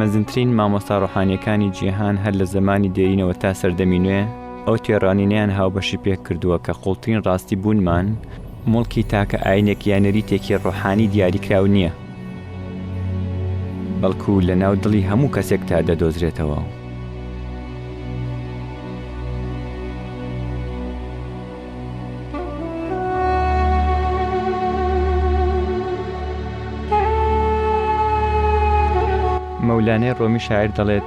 مەزنترین مامۆستا ڕۆحانیەکانی جیهان هەر لە زمانی دێینەوە تا سەردەمی نوێ ئەو تێڕانینیان هاوبەشی پێک کردووە کە قوڵترین ڕاستی بوونمان مڵکی تاکە ئاینێک یا نەریتێکی ڕۆحانی دیاریکراو نییە بەڵکو لە ناو دڵی هەموو کەسێک تا دەدۆزرێتەوە. مەولانای ڕۆمی شاعیر دەڵێت،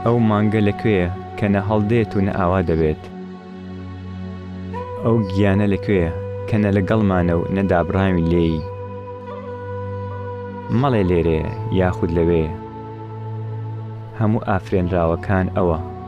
ئەو مانگە لە کوێیە کە نە هەڵدێت و نە ئاوا دەبێت؟ ئەو گیانە لە کوێیە کە نە لەگەڵمانە و نە دابڕاوین لێی؟ مەڵێ لێرەیە یاخود لەوێیە، هەموو ئافرێنراوەکان ئەوە.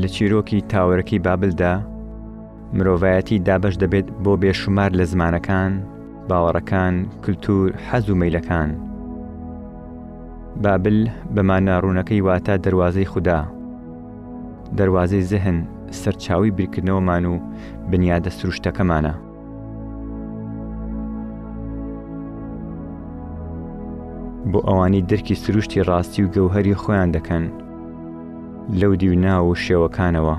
لە چیرۆکی تاوەرەکەی بابلدا، مرۆڤایەتی دابەش دەبێت بۆ بێشومار لە زمانەکان، باوەڕەکان، کلتور، حەز و مەیلەکان. بابل بە مانا ڕوونەکەی واتە دەروازەی خودا، دەروازەی زهن، سەرچاوی بیرکردنەوەمان و بنیادە سروشتەکەمانە. بۆ ئەوانی درکی سروشتی ڕاستی و گەوهری خۆیان دەکەن لەو دیو ناو و شێوەکانەوە.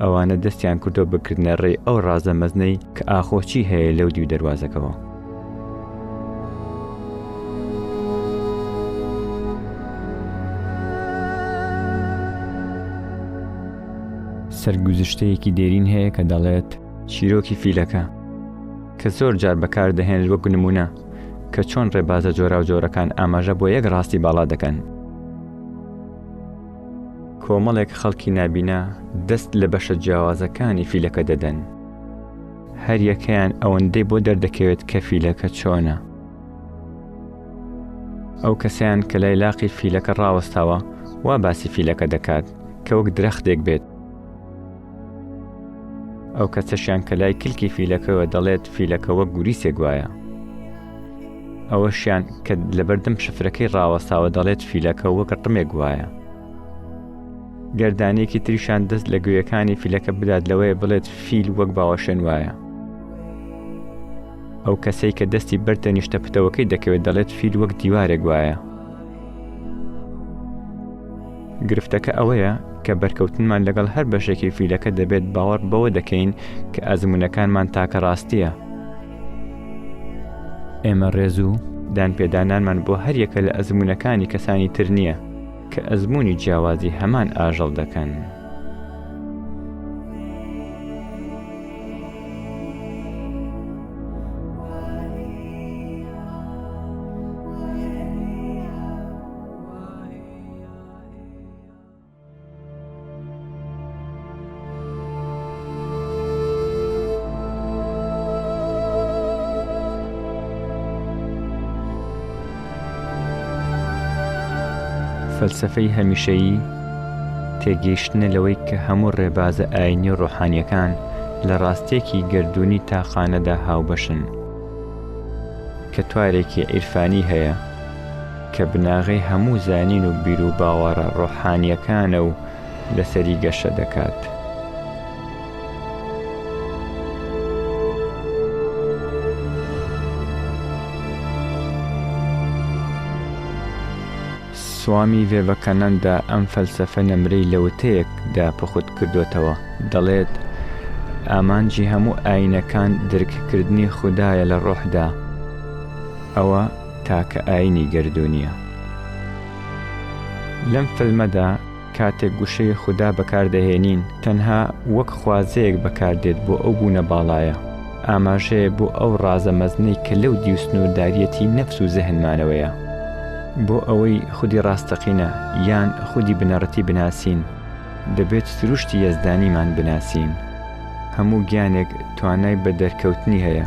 ئەوانە دەستیان کردوە بکردنە ڕێی ئەو ڕازە مەزنەی کە ئاخۆچی هەیە لەو دیو دەواازەکەەوە. سەرگوزشتەیەکی دێرین هەیە کە دەڵێت چیرۆکی فیلەکە کە زۆر جار بەکار دەهێنێت وەک نمونە کە چۆن ڕێبازە جۆرا و جۆرەکان ئاماژە بۆ یەک ڕاستی باڵا دەکەن کۆمەڵێک خەڵکی نابینا دەست لە بەشە جیاوازەکانی فیلەکە دەدەن. هەریەکەیان ئەوەندەی بۆ دەردەکەوێت کە فیلەکە چۆنە. ئەو کەسیان کە لای لاقی فیلەکە ڕاوەستاوە وا باسی فیلەکە دەکات کە وەک درەختێک بێت ئەو کەسەشیان کە لای کلکی فیلەکەوە دەڵێت فیلەکە وەک گوریسێک وایە ئەوەشیان کە لەبەردەم شفرەکەی ڕاوەستاوە دەڵێت فیلەکە وەک ڕمێک وایە گەردانێکی تریشان دەست لە گوێیەکانی فیلەکە بدات لەوەیە بڵێت فیل وەک باوەشێن وایە ئەو کەسەی کە دەستی بەرتە نیشتە پتەوەکەی دەکەوێت دەڵێت فیل وەک دیوارێک وایە گرفتەکە ئەوەیە کە بەرکەوتنمان لەگەڵ هەر بەشێکی فیلەکە دەبێت باوەڕ بەوە دەکەین کە ئەزموونەکانمان تاکە ڕاستییە. ئێمە ڕێز و دانپێدانانمان بۆ هەر یەکە لە ئەزموونەکانی کەسانی تر نییە کە ئەزموونی جیاوازی هەمان ئاژەڵ دەکەن. فەلسەفەی هەمیشەیی تێگەیشتنە لەوەی کە هەموو ڕێبازە ئاینی و ڕۆحانیەکان لە ڕاستێکی گردردونی تاقانەدا هاوبەشن کە توارێکی عیرفانی هەیە کە بناغەی هەموو زانین و بیروباوەڕە ڕۆحانییەکانە و لەسەری گەشە دەکات. سوامی ڤێڤەکانەندا ئەم فەلسەفە نەمرەی لە وتەیەک دا پوخت کردۆتەوە، دەڵێت، ئامانجی هەموو ئایینەکان درککردنی خودایە لە ڕۆحدا، ئەوە تاکە ئاینی گەردوونیە. لەم فلمەدا کاتێک گوشەی خودا بەکاردەهێنین تەنها وەک خوازەیەک بەکاردێت بۆ ئەو بوونە باڵایە، ئاماژەیە بۆ ئەو ڕازە مەزنەی کە لەو دیو سنوورداریەتی نەفس و زهنمانەوەیە. بۆ ئەوەی خودی ڕاستەقینە یان خودی بنەڕەتی بناسین دەبێت سروشتی یەزدانیمان بناسین. هەموو گیانێک توانای بەدەرکەوتنی هەیە.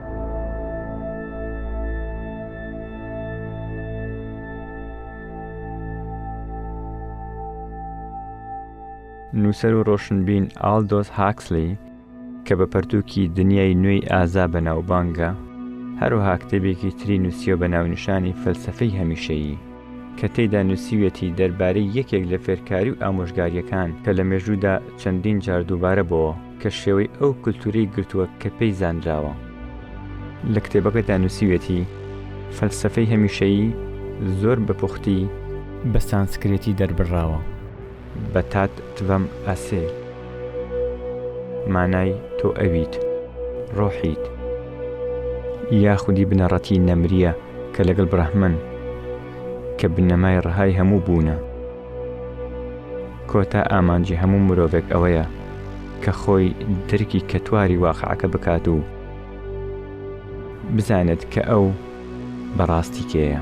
نووسەر و ڕۆشنبین ئالدۆس هاکسلی کە بە پەرتووکی دنیای نوێی ئازا بە ناوبانگە هەروها کتێبێکی تری نووسیە بە ناونیشانی فەلسفەی هەمیشەیی کە تێدا نووسیویەتی دەربارەی یەکێک لە فێرکاری و ئامۆژگاریەکان کە لە مێژوودا چەندین جار دووبارە بۆوە کە شێوەی ئەو کولتوورەی گرتووە کە پێی زانراوە. لە کتێبەکەدا نووسیویەتی، فەلسەفەی هەمیشەیی زۆر بە پوختی بە سانسکرێتی دەربڕراوە. بە تات تڤەم ئاسێ مانای تۆ ئەویت، ڕۆحیت، یا خودی بنەڕەتی نەمرییە کە لەگەڵ برەهمن، کە بنەمای ڕەهای هەموو بوونە. کۆتا ئامانجی هەموو مرۆڤێک ئەوەیە کە خۆی درکی کەتواری واقعەکە بکات و بزانێت کە ئەو بەڕاستی کێیە.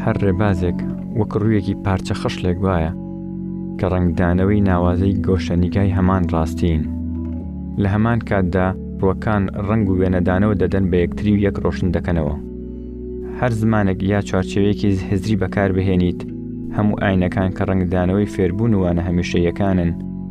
هەر ڕێبازێک وەک ڕوویەکی پارچە خەش لێک وایە کە ڕنگدانەوەی ناوازەی گۆشەنیگای هەمان ڕاستین لە هەمان کاتدا ڕوەکان ڕنگ و وێنەدانەوە دەدەن بە یەکتری و یەک ڕۆشن دەکەنەوە هەر زمانێک یا چوارچێوێکی هزری بەکاربهێنیت هەموو ئاینەکان کە ڕنگدانەوەی فێربوون وانە هەمیشەیەکانن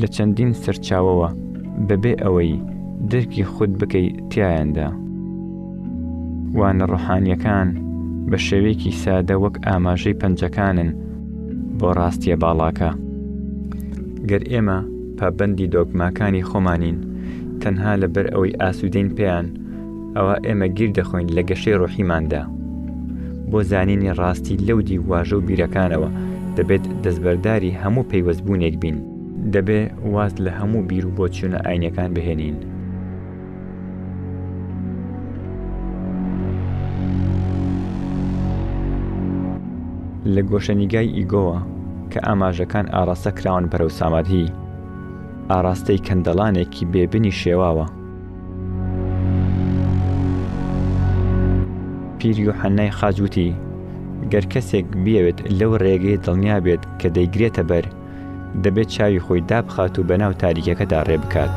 لە چەندین سەرچاوەوە بەبێ ئەوەی درکی خود بکەی تیایاندا. وانە ڕۆحانیەکان بە شێوەیەکی سادە وەک ئاماژەی پەنجەکانن بۆ ڕاستیە باڵاکە. گەر ئێمە پابەندی دۆگماکانی خۆمانین تەنها لەبەر ئەوەی ئاسودەین پێیان، ئەوا ئێمە گیر دەخۆین لە گەشەی ڕۆحیماندا بۆ زانینی ڕاستی لەو دی واژە و بیرەکانەوە دەبێت دەستبەرداری هەموو پەیوەستبوونێک بین دەبێ واز لە هەموو بیر و بۆچوونە ئاینەکان بهێنین لە گۆشەنیگای ئیگۆوە کە ئاماژەکان ئاراستە کراون بەرەو سامادهی ئاراستەی کەندەڵانێکی بێبنی شێواوە پیر یوحەنای خاج وتی گەر کەسێک بیەوێت لەو ڕێگەی دڵنیا بێت کە دەیگرێتە بەر دەبێت چاوی خۆی دابخات و بەناو تاریکەکەدا ڕێ بکات.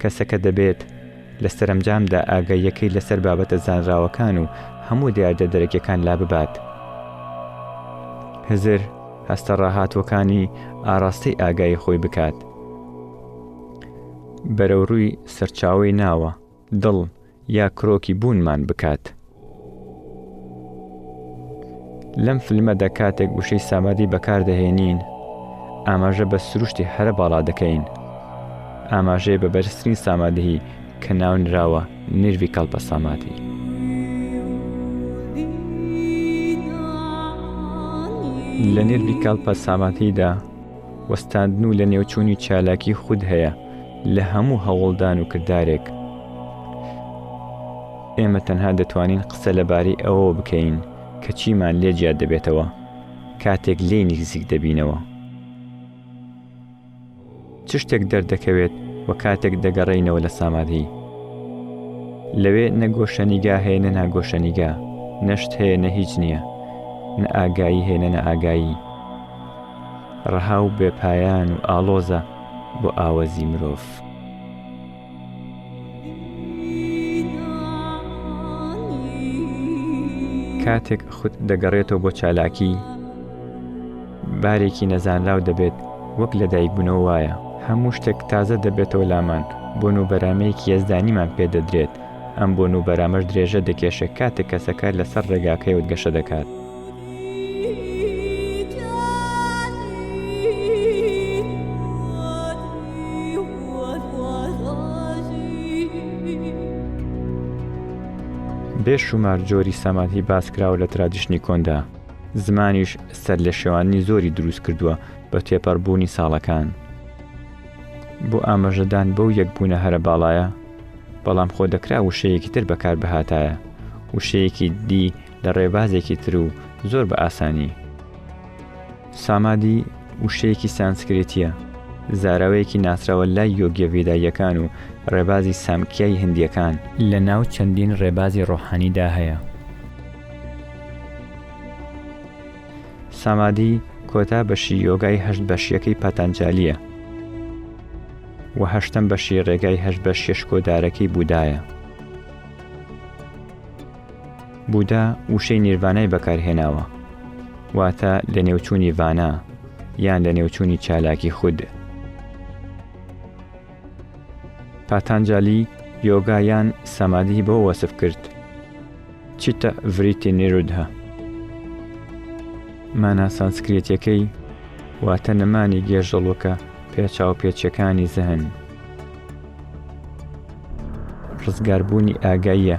کەسەکە دەبێت لە سەرەمجامدا ئاگاییەکەی لەسەر بابەتە زانراوەکان و هەموو دیاردە دەرەکیەکان لاببات. هزر هەستە ڕاهاتووەکانی ئاڕاستەی ئاگایی خۆی بکات. بەرەوڕووی سەرچاوەی ناوە، دڵ، یا کرۆکی بوونمان بکات. لەم فلمەدا کاتێک وشەی سامادی بەکاردەهێنین، ئاماژە بە سروشتی هەرە باڵا دەکەین. ئاماژەیە بە بەرزترین سامادهی کە ناونراوە نیرڤیکەڵپە سامادهی. لە نیرڤیکەڵپە سامادهیدا وەستاندن و لەنێوچوونی چالاکی خود هەیە لە هەموو هەوڵدان و کردارێک ئێمە تەنها دەتوانین قسە لەبارەی ئەوەوە بکەین کە چیمان لێ جیا دەبێتەوە کاتێک لێی نیکزیک دەبینەوە. چ شتێک دەردەکەوێت و کاتێک دەگەڕێینەوە لە سامادهی لەوێ نە گۆشەنیگا هەیە نە ناگۆشەنیگا نەشت هەیە نە هیچ نییە نە ئاگایی هێنە نە ئاگایی ڕەها و بێپایان و ئاڵۆزە بۆ ئاوەزی مرۆڤ. کاتێک خود دەگەڕێتەوە بۆ چالاکی، بارێکی نەزانراو دەبێت، وەک لەدایکبوونەوە وایە. هەموو شتێک تازە دەبێتەوە لامان، بۆن و بەرامەیەکی یەزدانیمان پێ دەدرێت، ئەم بۆن و بەرامەش درێژە دەکێشێ کاتێک کەسەکە لەسەر ڕێگاکەیەوە گەشە دەکات. بێ شومار جۆری سەمادهی باسکراوە لە ترادیشنی کۆندا زمانیش سەر لە شێواننی زۆری دروست کردووە بە تێپەڕبوونی ساڵەکان بۆ ئاماژەدان بەو یەکبوونە هەرە باڵایە بەڵام خۆ دەکرا وشەیەکی تر بەکار بهاتایە وشەیەکی دی لە ڕێبازێکی تر و زۆر بە ئاسانی. سامادی وشەیەکی سانسکریتییە، زاراوەیەکی ناسراوە لای یۆگییە ڤێداییەکان و ڕێبازی سامکیای هندییەکان. لە ناو چەندین ڕێبازی ڕۆحانیدا هەیە. سامادی کۆتا بەشی یۆگای هەشت بەشییەکەی پاتانجالییە و هەشتەم بەشی ڕێگای هەشت بەشییە شکۆدارەکەی بوودایە. بودا وشەی نیرڤانای بەکارهێناوە، واتە لەنێوچوونی ڤانا، یان لەنێوچوونی چالاکی خود. پاتانجالی یۆگا یان سەمادی بۆ وەسف کرد چیتە ڤریتی نیرودها مانا سانسکرێتیەکەی واتە نەمانی گێژەڵوەکە پێچاو پێچەکانی زەهن ڕزگاربوونی ئاگاییە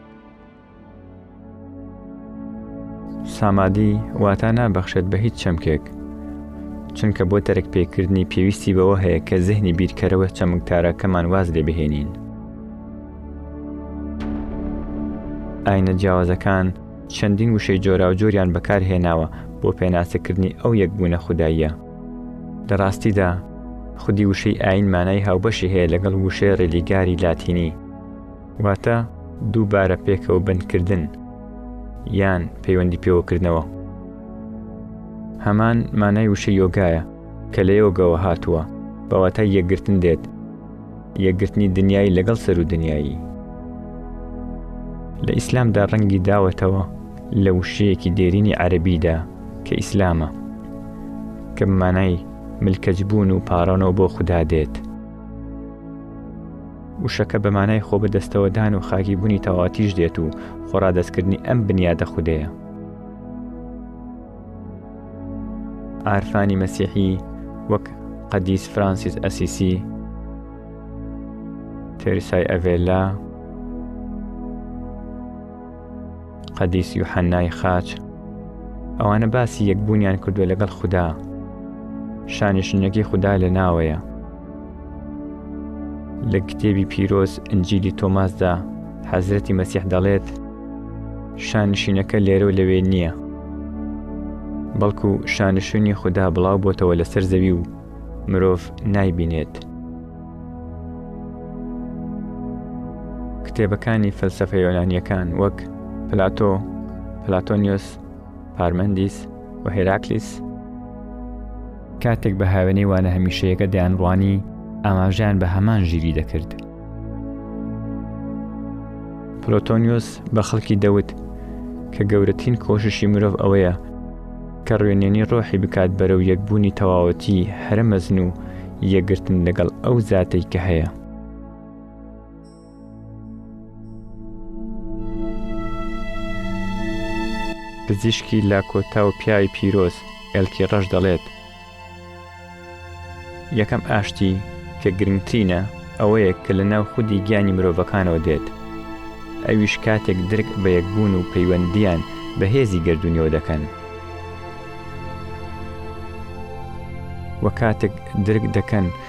سامادی واتا نابەخشێت بە هیچ چەمکێک چونکە بۆ تەرک پێکردنی پێویستی بەوە هەیە کە زهنی بیرکەرەوە چەمکتارەکەمان واز لێ بهێنین ئاینە جیاوازەکان چەندین وشەی جۆرا و جۆریان بەکارهێناوە بۆ پێناسەکردنی ئەو یەکبوونە خودداییە لە ڕاستیدا خودی وشەی ئاین مانای هاوبەشی هەیە لەگەڵ وشەی ڕێلیگاری لاتینی واتە دووبارە پێکەوە بەندکردن یان پەیوەندی پێوەکردنەوە هەمان مانای وشە یۆگایە کە لە یۆگەوە هاتووە بەواتە یەکگرتن دێت یەکگرتنی دنیای لەگەڵ سەر و دنیایی لە ئیسلامدا ڕەنگی داوەتەوە لە وشەیەکی دێرینی عەربیدا کە ئیسلامە کە مانای ملکەجبوون و پاڕانەوە بۆ خوددا دێت وشەکە بە مانای خۆبەدەستەوەدان و خاکیبوونی تەواوەتیش دێت و خۆڕادەستکردنی ئەم بنیادە خودەیە. عارفانی مەسیحی وەک قەدیس فرانسیس ئەسیسی، تێریسای ئەڤێلا، قەدیس یوحەنای خاچ، ئەوانە باسی یەکبوونیان کردووە لەگەڵ خودا، شانشینەکەی خودا لە ناوەیە. لە کتێبی پیرۆز ئنجیلی تۆماسدا حەزرەتی مەسیح دەڵێت شانشینەکە لێرە و لەوێ نییە بەڵکو شانشونی خوددا بڵاو بۆتەوە لەسەر زەوی و مرۆڤ نایبینێت کتێبەکانی فەلسەفە یۆنانیەکان وەک پلاتۆ پلاتۆنیۆس پارمەندیس و هێراکلیس کاتێک بە هاوێنەی وانە هەمیشەیەەکە دەیانڕوانی ئاماژیان بە هەمان ژیری دەکرد. پلۆتۆنیوس بە خەڵکی دەوت کە گەورەترین کۆششی مرۆڤ ئەوەیە کە ڕوێنێنی ڕۆحی بکات بەرەو یەکبوونی تەواوەتی هەرە مەزن و یەکگرتن لەگەڵ ئەو زاتێک کە هەیە. پزیشکی لاکۆتا و پیاوی پیرۆز ئێلکی ڕەش دەڵێت، یەکەم ئاشتی کە گرنگترینە ئەوەیە کە لە ناو خودی گیانی مرۆڤەکانەوە دێت، ئەویش کاتێک درک بە یەکبوون و پەیوەندییان بە هێزی گەردوونیەوە دەکەن و کاتێک درک دەکەن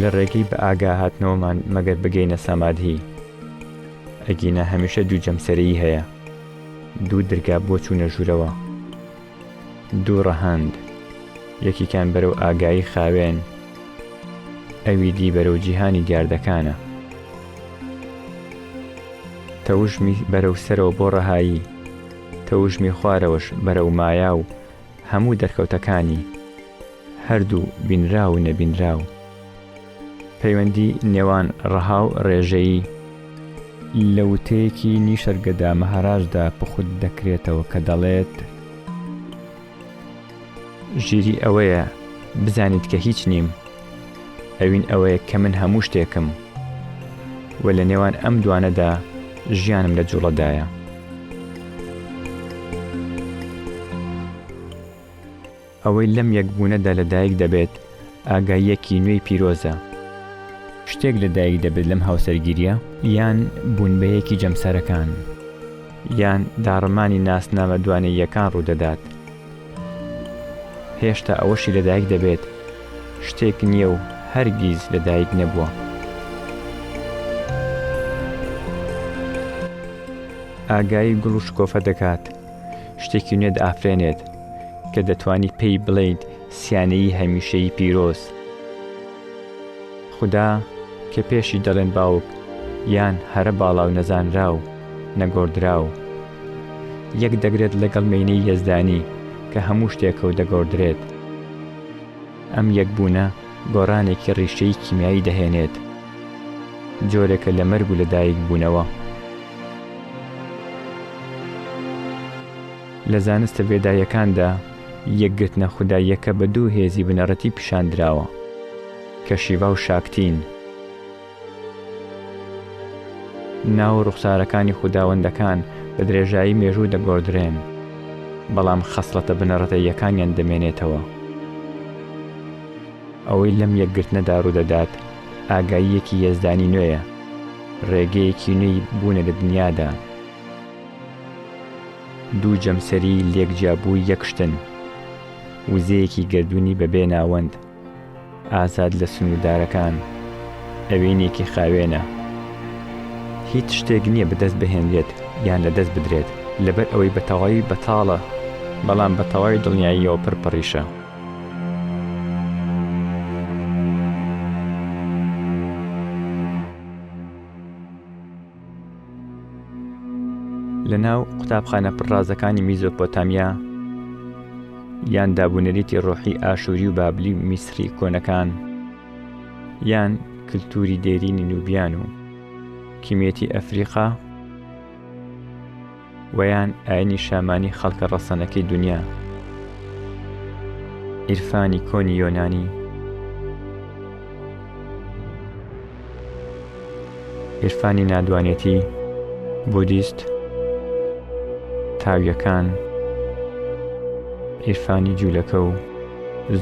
لە ڕێگەی بە ئاگا هاتنەوەمان مەگەر بگەینە سامادهی ئەگینا هەمیشە دوو جەمسەرەیی هەیە دوو درگا بۆ چوونە ژوورەوە دوو ڕەهەند یەکیکان بەرەو ئاگایی خاوێن ئەوی دی بەرەو جیهانی دیاردەکانە تەوژمی بەرەو سەرەوە بۆ ڕەهایی تەوژمی خوارەوەش بەرەو مایا و هەموو دەرکەوتەکانی، هەردوو بینراو و نەبینراو، پەیوەندی نێوان ڕەها و ڕێژەیی، لە وتەیەکی نیشەرگەدا مەهاراجدا پوخت دەکرێتەوە کە دەڵێت. ژیری ئەوەیە بزانیت کە هیچ نیم ئەوین ئەوەیە کە من هەموو شتێکم و لە نێوان ئەم دوانەدا ژیانم لە جوڵەدایە. ئەوەی لەم یەکبوونەدا لەدایک دەبێت ئاگاییەکی نوێی پیرۆزە. شتێک لە دایک دەبێت لەم هاوسەرگیریە؟ یان بوونبەیەکی جەمسەرەکان؟ یان داڕمانی ناسنامە دوانەییەکان ڕوودەدات؟ هێشتا ئەوەشی لە دایک دەبێت شتێک نییە و هەرگیز لە دایک نەبووە. ئاگایی گوڵ و شکۆفە دەکات، شتێکی نوێ دەئافرێنێت کە دەتوانی پێی بڵێیت سیانەیی هەمیشەیی پیرۆز. خودا کە پێشی دەڵێن باوک یان هەرە باڵاو نەزانراو نەگۆردراو یەک دەگرێت لەگەڵ مێینەی یەزدانی کە هەموو شتێکەو دەگۆردرێت. ئەم یەک بوونە گۆڕانێکی ڕیشەیی کیمیایی دەهێنێت. جۆرێکە لە مەرگ و لەدایک بوونەوە. لە زانستە ڤێداییەکاندا یەکگرتنە خوداییەکە بە دوو هێزی بنەڕەتی پیشان دراوە کە شیڤا و شاکتین. ناو و ڕوخسارەکانی خوداوەندەکان بە درێژایی مێژوو دەگۆڕدرێن، بەڵام خەسڵەتە بنەڕەتەییەکانیان دەمێنێتەوە. ئەوەی لەم یەکگرتنەدا ڕوودەدات ئاگاییەکی یەزدانی نوێیە، ڕێگەیەکی نوێی بوونە لە دنیادا. دوو جەمسەری لێک جیابووی یەک شتن، وزەیەکی گەردوونی بەبێ ناوەند، ئازاد لە سنووردارەکان، ئەوینێکی خاوێنە. هیچ شتێک نییە بەدەست بهێنرێت یان لەدەست بدرێت، لەبەر ئەوەی بە تەواوی بەتاڵە، بەڵام بە تەواوی دڵنیاییەوە پڕ پڕیشە. لە ناو قوتابخانە پڕازەکانی میزۆپۆتامیا یان دابوونەریتی ڕۆحی ئاشووری و بابلی و میسری کۆنەکان یان کللتوری دێرینی نوبیان و کیمێتی ئەفریقا وەیان ئاینی شامانی خەڵکە ڕەسەنەکەی دونیا ئیرفانی کۆنی یۆنانی ئیرفانی نادوانێتی بودیست تاویەکان ئیرفانی جوولەکە و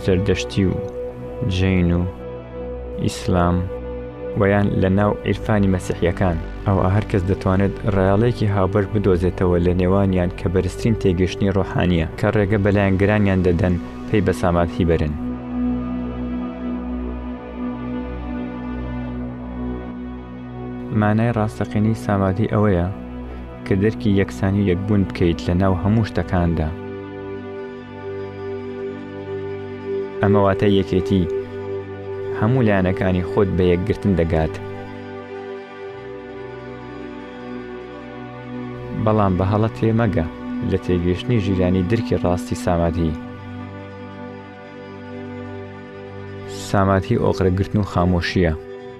زەردەشتی و جین و ئیسلام وە یان لە ناو عیرفانی مەسیحیەکان، ئەوا هەر کەس دەتوانێت ڕێاڵەیەکی هاوبەش بدۆزێتەوە لە نێوانیان کە بەرزترین تێگەشتنی ڕۆحانیە کە ڕێگە بە لایەنگرانیان دەدەن پەی بە سامابهی بەرن. مانای ڕاستەقینەی سامادهی ئەوەیە کە دەرکی یەکسانی و یەکبوون بکەیت لە ناو هەموو شتەکاندا. ئەمە واتە یەکێتی هەموو لایەنەکانی خۆت بە یەکگرتن دەگات بەڵام بە هەڵە تێمەگە لە تێگەشتنی ژیرانی درکی ڕاستی ساماتی ساماتی ئۆقرەگرتن و خامۆشیە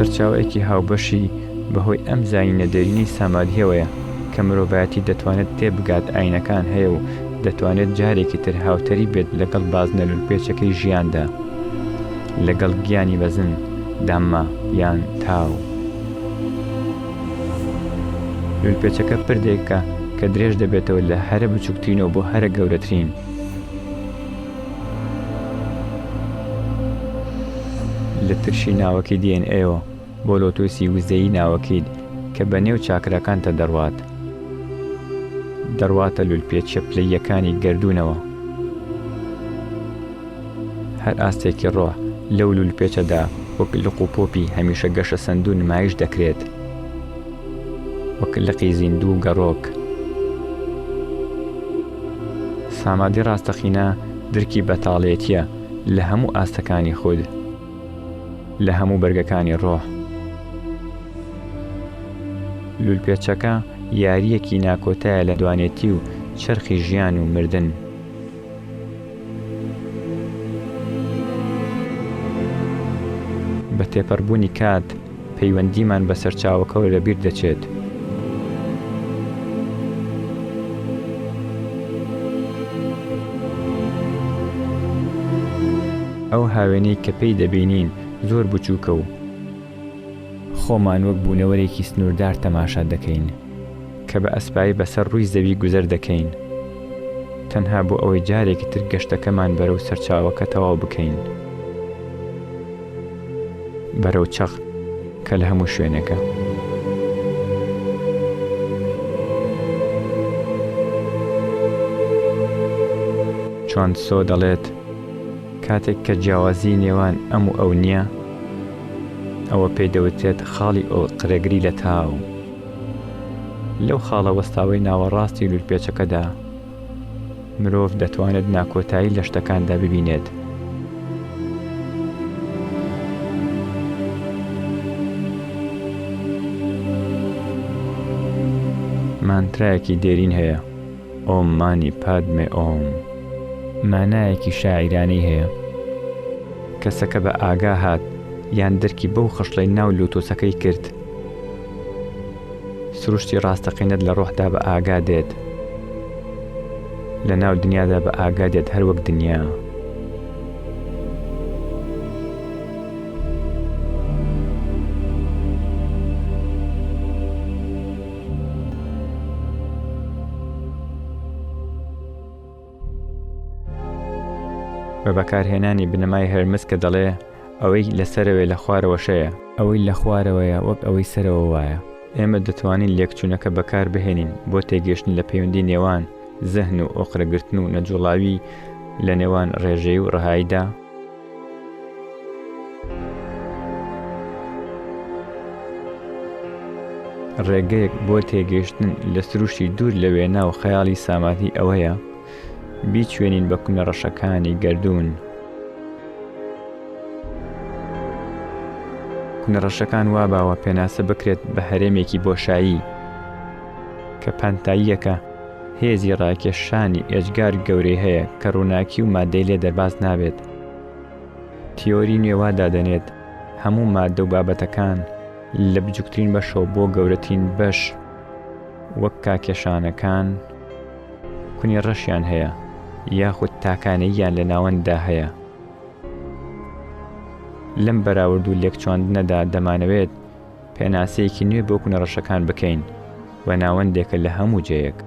سەرچاوەیەکی هاوبەشی بەهۆی ئەم زایینە دێرینەی سامادهیەوەیە کە مرۆڤایەتی دەتوانێت تێبگات ئاینەکان هەیە و دەتوانێت جارێکی تر هاوتەریب بێت لەگەڵ بازنە لولپێچەکەی ژیاندا. لەگەڵ گیانی بەزن دامما یان تاو. لولپێچەکە پردێکە کە درێژ دەبێتەوە لە هەرە بچووکترینەوە بۆ هەرە گەورەترین. لە ترشی ناوەکی DNA-ەوە بۆ لۆتوسی وزەیی ناوەکەیت کە بە نێو چاکراکانتە دەڕوات دەڕواتە لولپێچە پلەییەکانی گەردوونەوە هەر ئاستێکی ڕۆ لەو لولپێچەدا وەک لق و پۆپی هەمیشە گەشە سەندوو نمایش دەکرێت وەک لقی زیندوو گەڕۆک سامادی ڕاستەقینە درکی بەتاڵێتیە لە هەموو ئاستەکانی خود لە هەموو بەرگەکانی ڕۆح لولپێچەکە یاریەکی ناکۆتایە لە دوانێتی و چرخی ژیان و مردن بە تێپەڕبوونی کات پەیوەندیمان بە سەرچاوەکەوە لەبیر دەچێت. ئەو هاوێنەی کە پێی دەبینین زۆر بچووکە و خۆمان وەک بوونەوەرێکی سنووردار تەماشا دەکەین کە بە ئەسپایی بەسەر ڕووی زەوی گوزەر دەکەین تەنها بۆ ئەوەی جارێکی تر گەشتەکەمان بەرەو سەرچاوەکە تەواو بکەین. بەرەو چەق کە لە هەموو شوێنێکە. چوان تسۆ دەڵێت، کاتێک کە جیاوازی نێوان ئەم و ئەو نییە، ئەوە پێی دەوترێت خاڵی ئۆقرەگری لە تاو. لەو خاڵە وەستاوەی ناوەڕاستی لولپێچەکەدا، مرۆڤ دەتوانێت ناکۆتایی لە شتەکاندا ببینێت. مانترایەکی دێرین هەیە، ئۆم مانی پادمێ ئۆم. مانایەکی شاعیرانەی هەیە. کەسەکە بە ئاگا هات یان درکی بەو خشڵەی ناو لۆتۆسەکەی کرد. سروشتی ڕاستەقینەت لە ڕۆحدا بە ئاگا دێت، لە ناو دنیادا بە ئاگا دێت هەر وەک دنیا. بە بەکارهێنانی بنەمای هەرمس کە دەڵێ ئەوەی لە سەرەوەی لە خوارەوەشەیە ئەوەی لە خوارەوەیە وەک ئەوەی سەرەوە وایە ئێمە دەتوانین لێکچوونەکە بەکار بهێنین بۆ تێگەشتن لە پەیوەندی نێوان زەهن و ئۆقرەگرتن و نەجوڵاوی لە نێوان ڕێژەی و ڕەهاییدا ڕێگەیەک بۆ تێگەیشتن لە سروشتی دوور لە وێنا و خەیاڵی ساماتی ئەوەیە بیچێنین بە کونە ڕەشەکانی گردردون کونەڕەشەکان وا باوە پێناسە بکرێت بە هەرێمێکی بۆشایی کە پانتاییەکە هێزی ڕاکێشانی ئێجگار گەورەی هەیە کە ڕووناکی و مادەی لێ دەرباز نابێت. تیۆری نوێ وا دادەنێت هەموو مادە و بابەتەکان لە بچووکترین بەشەوە بۆ گەورەترین بەش وەک کاکێشانەکان کونی ڕەشیان هەیە یاخود تاکانەییان لە ناوەنددا هەیە. لەم بەراورد و لێکچواندنەدا دەمانەوێت پێناسەیەکی نوێ بۆ کونە ڕەشەکان بکەین و ناوەندێکە لە هەموو جێیەک.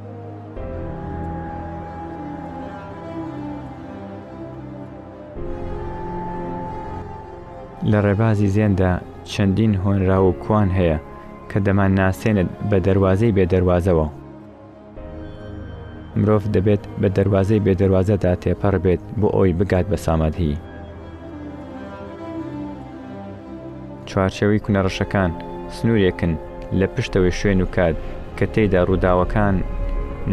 لە ڕێبازی زێندا چەندین هۆنراو و کوان هەیە کە دەمان ناسێنێت بە دەروازەی بێ دەروازەوە. مرۆڤ دەبێت بە دەروازەی بێ دەروازەدا تێپەڕ بێت بۆ ئەوەی بگات بە سامادهی. چوارچێوەی کونە ڕەشەکان سنوورێکن لە پشتەوەی شوێن و کات کە تێیدا ڕووداوەکان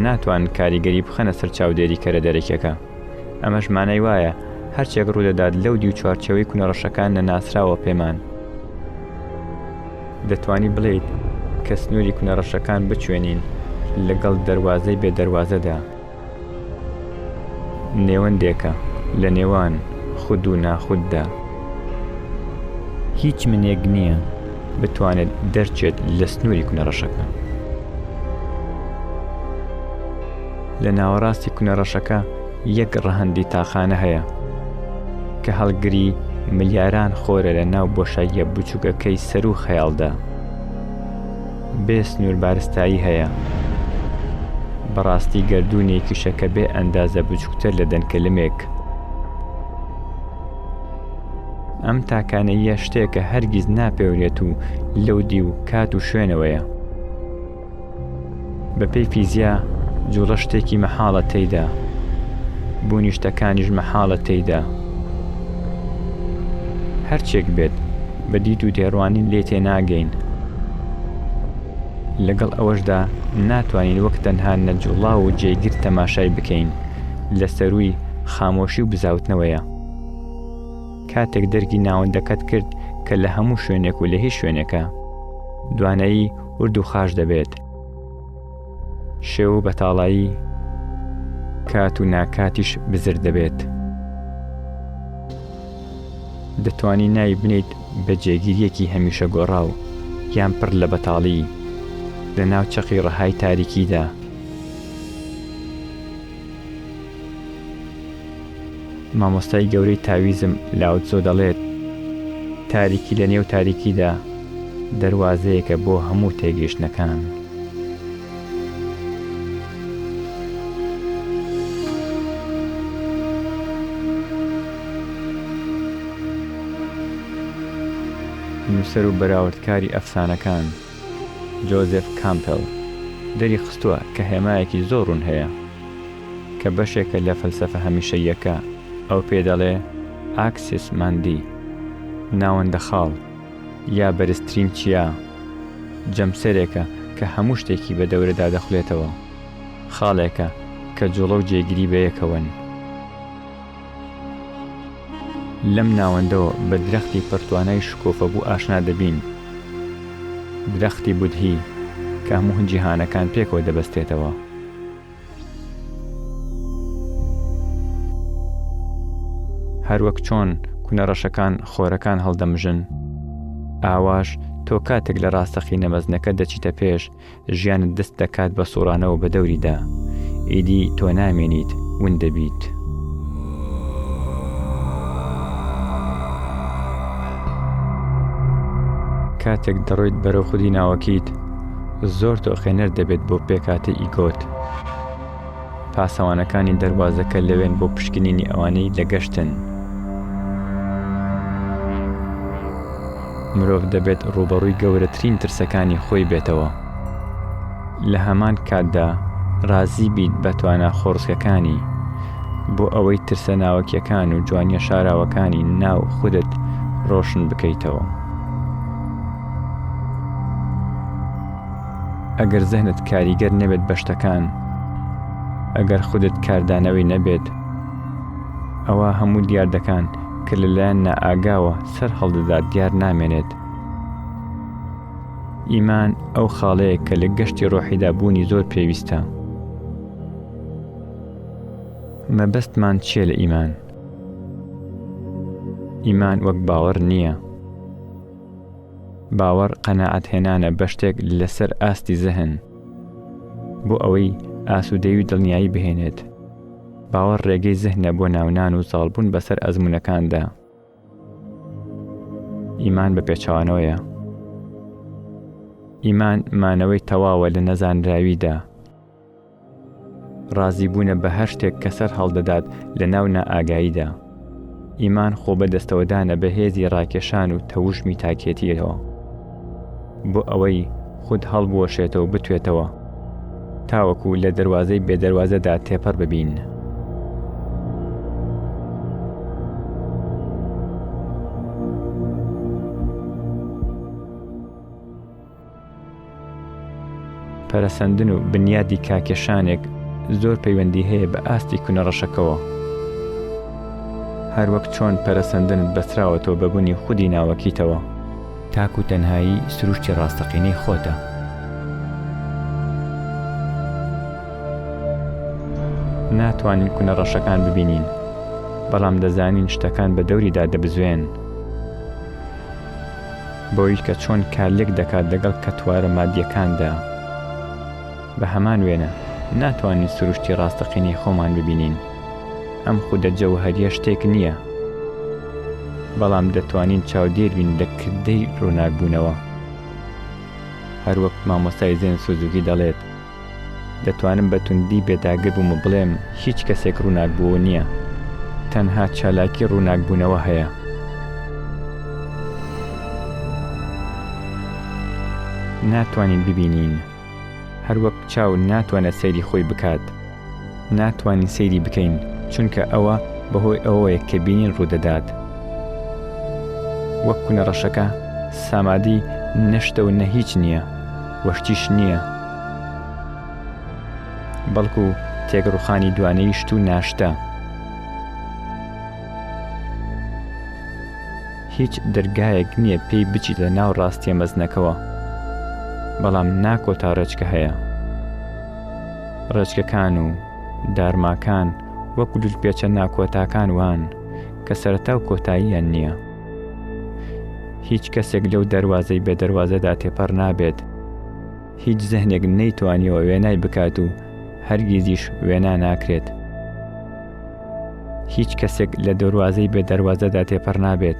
ناتوانن کاریگەری بخەنە سەر چاودێریکەرە دەرەکیەکە. ئەمەش مانای وایە هەرچێک ڕوودەدات لەو دیو چوارچەوەی کونە ڕەشەکان نەناسراوە پێمان دەتوانی بڵیت کە سنووری کونە ڕەشەکان بچێنین لەگەڵ دەواازەی بێ دەواازەدا نێوەندێکە لە نێوان خود و ناخوددا هیچ منێک نییە بتوانێت دەرچێت لە سنووری کونە ڕەشەکە لە ناوەڕاستی کونە ڕەشەکە یەک ڕەهەندی تاقانە هەیە کە هەڵگری ملیاران خۆرە لە ناو بۆشاییە بچووکەکەی سەر و خەیاڵدا بێ سنوور بارستایی هەیە بەڕاستی گردردونێکیشە کە بێ ئەندازە بچووکتر لە دەنکەلمێک ئەم تاکانەیە شتێکە هەرگیز ناپێورێت و لەو دی و کات و شوێنەوەیە بە پێی فیزیا جووڵە شتێکی مەحاڵە تێیدا، بوونی شتەکانیش مەحاڵە تێیدا. هەرچێک بێت بە دیت و تێڕوانین لێ تێناگەین. لەگەڵ ئەوەشدا ناتوانین وەک تەنها نەجوڵاو و جێگر تەماشای بکەین لە سەرووی خامۆشی و بزاوتنەوەیە. کاتێک دەرکی ناوەندەکەت کرد کە لە هەموو شوێنێک و لە هیچ شوێنێکە دوانایی ورد و خاش دەبێت. شێو و بەتاڵایی کات و ناکاتیش بزر دەبێت. دەتوانی ناوی بنیت بە جێگیریەکی هەمیشە گۆڕاو یان پڕ لە بەتاڵی لە ناو چەقی ڕەهای تاریکیدا. مامۆستای گەورەی تاویزم لاو تزۆ دەڵێت، تاریکی لە نێو تاریکیدا دەروازەیەکە بۆ هەموو تێگەیشتنەکان. نووسەر و بەراوردکاری ئەفسانەکان. جۆزێف کامپێڵ دەری خستووە کە هێمایەکی زۆر ڕوون هەیە کە بەشێکە لە فەلسەفە هەمیشەییەکە، ئەو پێی دەڵێ ئاکسیس ماندی، ناوەندە خاڵ، یا بەرزترین چیا، جەمسەرێکە کە هەموو شتێکی بە دەورەدا دەخولێتەوە، خاڵێکە کە جووڵە و جێگیری بەیەکەوەن. لەم ناوەندەوە بە درەختی پڕتوانای شکۆفەبوو ئاشنا دەبین، درەختی بودهی کە هەموو جیهانەکان پێکەوە دەبەستێتەوە. هەروەک چۆن کونە ڕەشەکان خۆرەکان هەڵدەمژن، ئاواش تۆ کاتێک لە ڕاستەقینە مەزنەکە دەچیتە پێش، ژیانت دەست دەکات بە سوڕانەوە بە دەوریدا ئیدی تۆ نامێنیت ون دەبیت. کاتێک دەڕۆیت بەرەو خودی ناوەکیت زۆر تۆقێنەر دەبێت بۆ پێکهاتەی ئیگۆت. پاسەوانەکانی دەروازەکە لەوێن بۆ پشکنینی ئەوانەی لە گەشتن مرۆڤ دەبێت ڕوبەڕووی گەورەترین ترسەکانی خۆی بێتەوە لە هەمان کاتدا ڕازی بیت بە توانا خۆڕسکەکانی بۆ ئەوەی ترسە ناوەکیەکان و جوانیە شاراوەکانی ناو خودت ڕۆشن بکەیتەوە. ئەگەر زەهنت کاریگەر نەبێت بە شتەکان ئەگەر خودت کاردانەوەی نەبێت ئەوە هەموو دیاردەکان کە لەلایەن نائاگاوە سەر هەڵدەدات دیار نامێنێت ئیمان ئەو خاڵەیە کە لە گەشتی ڕۆحیدا بوونی زۆر پێویستە مەبەستمان چیە لە ئیمان ئیمان وەک باوەڕ نییە باوەڕ قەناعەت هێنانە بەشتێک لەسەر ئاستی زەهن بۆ ئەوەی ئاسوودەی و دڵنیایی بهێنێت باوەڕ ڕێگەی زەهنە بۆ ناونان و زاڵبوون بەسەر ئەزمونونەکاندا ئیمان بە پێچوانەوەیە ئیمان مانەوەی تەواوە لە نەزانراویدا ڕازی بوونە بە هەر شتێک کە سەر هەڵدەدات لە ناو نائاگاییدا ئیمان خۆ بە دەستەوەدانە بە هێزی ڕاکێشان و تەوژمی تاکێتیەوە بۆ ئەوەی خود هەڵبوەشێتەوە بتوێتەوە تاوەکو لە دەواازەی بێدەواازەدا تێپەر ببین. پەرەسەندن و بنیادی کاکێشانێک زۆر پەیوەندی هەیە بە ئاستی کونە ڕەشەکەوە. هەروەک چۆن پەرەسەندنت بەستراوەتەوە بە بوونی خودی ناوەکیتەوە. تاک و تەنهایی سروشتی ڕاستەقینەی خۆتە. ناتوانین کونە ڕەشەکان ببینین بەڵام دەزانین شتەکان بە دەوریدا دەبزوێن. بۆییش کە چۆن کارلێک دەکات لەگەڵ کەتوارە مادییەکاندا، بە هەمان وێنە ناتوانین سروشتی ڕاستەقینەی خۆمان ببینین. ئەم خودە جەوهەرییە شتێک نییە، بەڵام دەتوانین چاودێر بین لە کردەی ڕووناکبوونەوە. هەروەک مامۆستای زێن سوزوکی دەڵێت، دەتوانم بە توندی بێداگر بووم و بڵێم هیچ کەسێک ڕووناکبوو نییە، تەنها چالاکی ڕووناکبوونەوە هەیە. ناتوانین ببینین، هەروەک چاو ناتوانێت سەیری خۆی بکات. ناتوانین سەیری بکەین چونکە ئەوە بەهۆی ئەوەیە کە بینین ڕوودەدات وەک کونە ڕەشەکە سامادی نە شتە و نە هیچ نییە و شتیش نییە بەڵکو تێکڕوخانی دوانەی شت و ناشتە هیچ دەرگایەک نییە پێی بچیتە ناو ڕاستیە مەزنەکەوە بەڵام ناکۆتا ڕێچکە هەیە ڕێچکەکان و دارماکان وەک لولپێچە ناکۆتاکان وان کە سەرەتا و کۆتاییان نییە. هیچ کەسێک لەو دەروازەی بێ دەروازەدا تێپەڕ نابێت، هیچ زهنێک نەیتوانیوە وێنای بکات و هەرگیزیش وێنا ناکرێت. هیچ کەسێک لە دەروازەی بێ دەروازەدا تێپەڕ نابێت.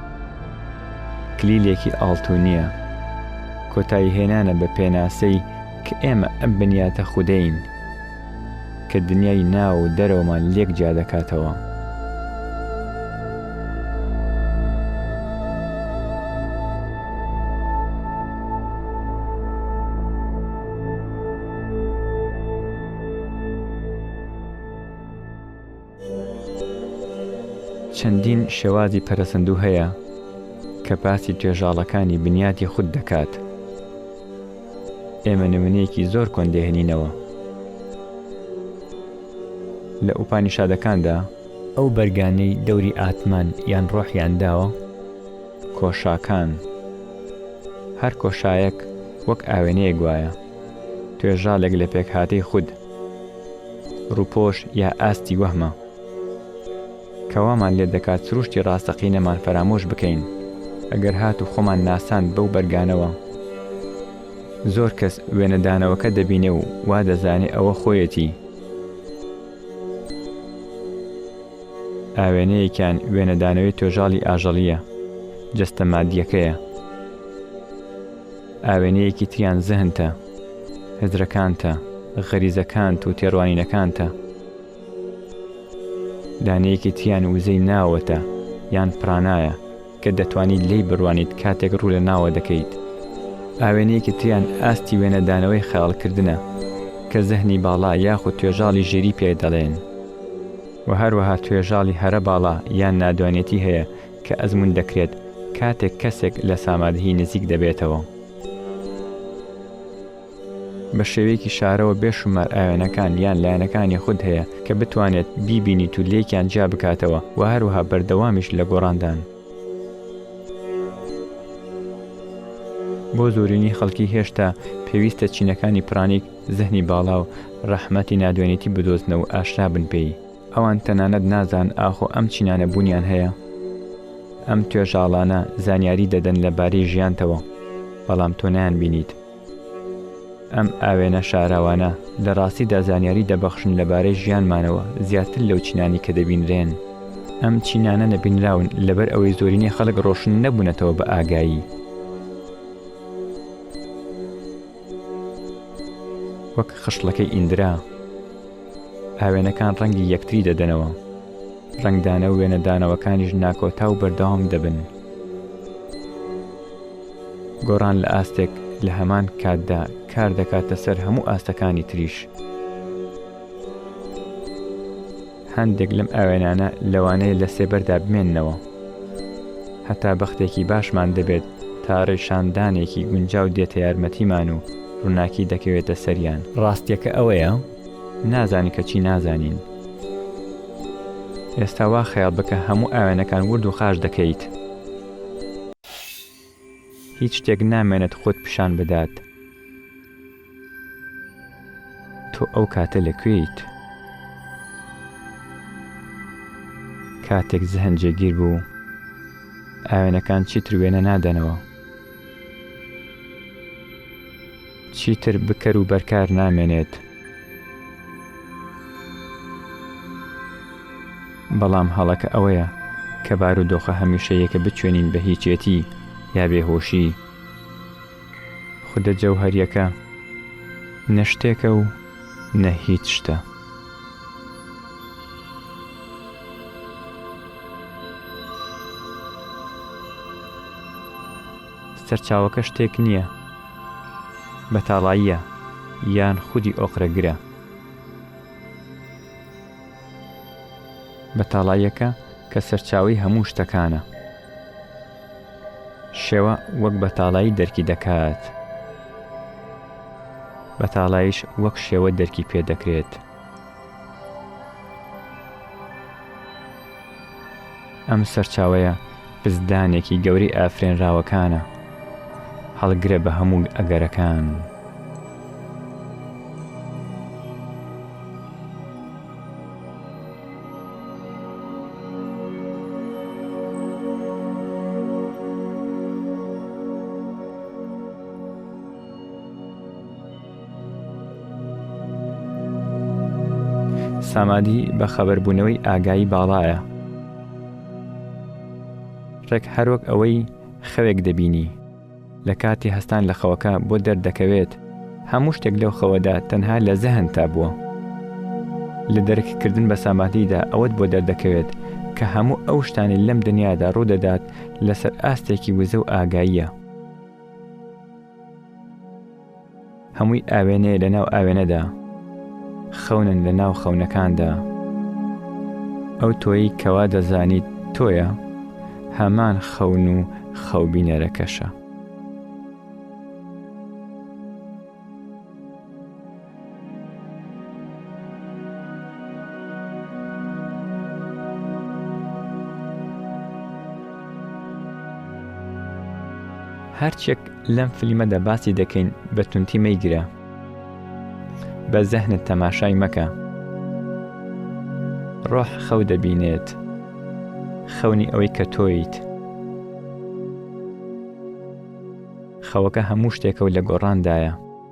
کلیلێکی ئاڵتونیە، کۆتایی هێنانە بە پێناسەی کە ئێمە ئەم بنیاتە خودەین کە دنیای ناو و دەرەوەمان لێک جیا دەکاتەوە. چەندین شێوازی پەرەسەندوو هەیە کە باسی توێژاڵەکانی بنیاتی خود دەکات. ئێمە نمونەیەکی زۆر کۆن دێهنینەوە. لە ئوپانیشادەکاندا، ئەو بەرگانەی دەوری ئاتمان یان ڕۆحیان داوە، کۆشاکان، هەر کۆشایەک وەک ئاوێنەیەک وایە، توێژاڵێک لە پێکهاتەی خود، ڕووپۆش یا ئاستی وەهمە کە وامان لێ دەکات سروشتی ڕاستەقینەمان فەرامۆش بکەین، ئەگەر هات و خۆمان ناساند بەو بەرگانەوە. زۆر کەس وێنەدانەوەکە دەبینێ و وا دەزانێ ئەوە خۆیەتی. ئاوێنەیەکیان وێنەدانەوەی توێژاڵی ئاژەڵییە، جەستە مادییەکەیە. ئاوێنەیەکی تریان زهنتە. هزرەکانتە، غەریزەکانت و تێڕوانینەکانتە. دانەیەکی تیان وزەی ناوەتە یان پرانایە کە دەتوانیت لێی بڕوانیت کاتێک ڕوو لە ناوە دەکەیت. ئاوێنەیەکی تریان ئاستی وێنەدانەوەی خەیاڵکردنە کە زەهنی باڵا یاخود توێژاڵی ژیری پێ دەڵێن و هەروەها توێژاڵی هەرە باڵا یان نادوانێتی هەیە کە ئەزموون دەکرێت کاتێک کەسێک لە سامادهی نزیک دەبێتەوە. بە شێوەیەکی شارەوە بێ شومار ئاوێنەکان یان لایەنەکانی خود هەیە کە بتوانێت بیبینیت و لێکیان جیا بکاتەوە و هەروەها بەردەوامیش لە گۆڕاندان. بۆ زۆرینەی خەڵکی هێشتا پێویستە چینەکانی پرانیک، زهنی باڵا و ڕەحمەتی نادوێنێتی بدۆزنەوە و ئاشنا بن پێی. ئەوان تەنانەت نازان ئاخۆ ئەم چینانە بوونیان هەیە؟ ئەم توێژاڵانە زانیاری دەدەن لە بارەی ژیانتەوە، بەڵام تۆ نایان بینیت. ئەم ئاوێنە شاراوانە لە ڕاستیدا زانیاری دەبەخشن لە بارەی ژیانمانەوە زیاتر لەو چینانی کە دەبینرێن. ئەم چینانە نەبینراون لەبەر ئەوەی زۆرینەی خەڵک ڕۆشن نەبوونەتەوە بە ئاگایی. وەک خشڵەکەی ئیندرا. ئاوێنەکان ڕەنگی یەکتری دەدەنەوە ڕنگدانە و وێنەدانەوەکانیش ناکۆتا و بەردەوام دەبن گۆڕان لە ئاستێک لە هەمان کاتدا کار دەکاتە سەر هەموو ئاستەکانی تریش هەندێک لەم ئاوێنانە لەوانەیە لە سێبەردا بمێنەوە هەتا بەختێکی باشمان دەبێت تا ڕیشاندانێکی گونجاو دێتە یارمەتیمان و ڕووناکی دەکەوێتە سەریان. ڕاستیەکە ئەوەیە نازانین کە چی نازانین. ئێستا وا خەیاڵ بکە هەموو ئاوێنەکان ورد و خاش دەکەیت. هیچ شتێک نامێنێت خۆت پیشان بدات. تۆ ئەو کاتە لە کوێیت؟ کاتێک زهن جێگیر بوو، ئاوێنەکان چیتر وێنە نادەنەوە. چیتر بکەر و بەرکار نامێنێت. بەڵام هەڵەکە ئەوەیە کە بارودۆخە هەمیشەیەکە بچێنین بە هیچێتی یا بێهۆشی. خودە جەوهەریەکە نە شتێکە و نە هیچ شتە. سەرچاوەکە شتێک نییە بەتاڵاییە یان خودی ئۆقرەگرە بەتاڵایەکە کە سەرچاوی هەموو شتەکانە شێوە وەک بەتاڵایی دەرکی دەکات. بەتاڵاییش وەک شێوە دەرکی پێ دەکرێت. ئەم سەرچاوەیە پزدانێکی گەورەی ئافرێنراوەکانە. هەڵگرە بە هەموو ئەگەرەکان. سامادی بە خەبەربوونەوەی ئاگایی باڵایە ڕێک هەروەک ئەوەی خەوێک دەبینی لە کاتی هەستان لە خەوەکە بۆ دەردەکەوێت هەموو شتێک لەو خەوەدا تەنها لە زەهنتا بووە. لە دەرککردن بە سامادیدا ئەوەت بۆ دەردەکەوێت کە هەموو ئەو شتانی لەم دنیادا ڕوودەدات لەسەر ئاستێکی وزە و ئاگاییە. هەمووی ئاوێنەیە لە ناو ئاوێنەدا خەونن لە ناو خەونەکاندا ئەو تۆیی کەوا دەزانیت تۆیە هەمان خەون و خەوبینەرەکەشە. هەرچێک لەم فلیمەدا باسی دەکەین بە تونتی مەیگرە بە زەهنت تەماشای مەکە ڕۆح خەو دەبینێت خەونی ئەوەی کە تۆیت خەوەکە هەموو شتێکە و لە گۆڕاندایە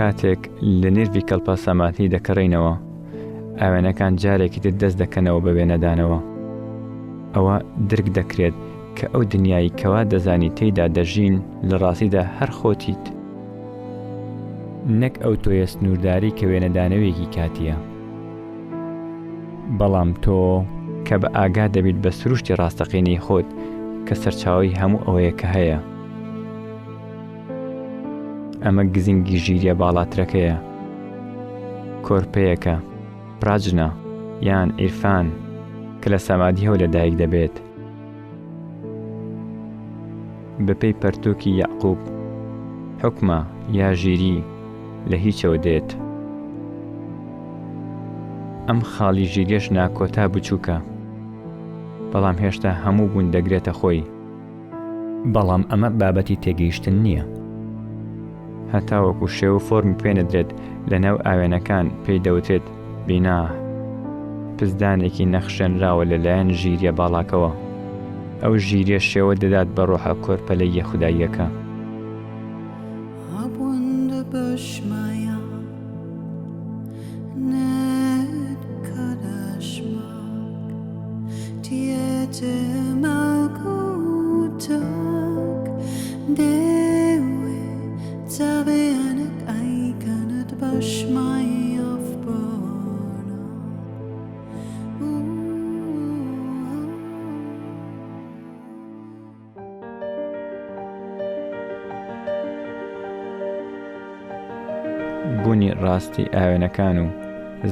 کاتێک لە نێژبی کەلپا ساماتنی دەکەڕینەوە ئاوێنەکان جارێکی تر دەست دەکەنەوە بە وێنەدانەوە ئەوە درک دەکرێت کە ئەو دنیای کەوا دەزانی تێیدا دەژین لە ڕاستیدا هەر خۆتیت نەک ئەو تۆیە سنوورداری کە وێنەدانەوێکی کاتیە بەڵام تۆ کە بە ئاگا دەبیت بە سروشتی ڕاستەقینەی خۆت کە سەرچاوەی هەموو ئەوەیە کە هەیە ئەمە گزینگی ژیریە باڵاترەکەیە کۆرپەیەکە پراجنە یان ئیرفان کە لە سەمادیەوە لەدایک دەبێت بەپێی پەرتووکی یەعقووب، حوکمە یا ژیری لە هیچەوە دێت. ئەم خاڵی ژیریەش ناکۆتا بچووکە، بەڵام هێشتا هەموو بوون دەگرێتە خۆی. بەڵام ئەمە بابەتی تێگەیشتن نییە. هەتاوەکو شێو و فۆرمی پێ نەدرێت لەناو ئاوێنەکان پێی دەوترێت بینا پزدانێکی نەخشێنراوە لەلایەن ژیریە باڵاکەوە ئەو ژیریە شێوە دەدات بە ڕۆحە کۆرپەلە یە خودداییەکە زەوێنک ئەیکەنت بە شمای ئەفغانا بونی ڕاستی ئاوێنەکان و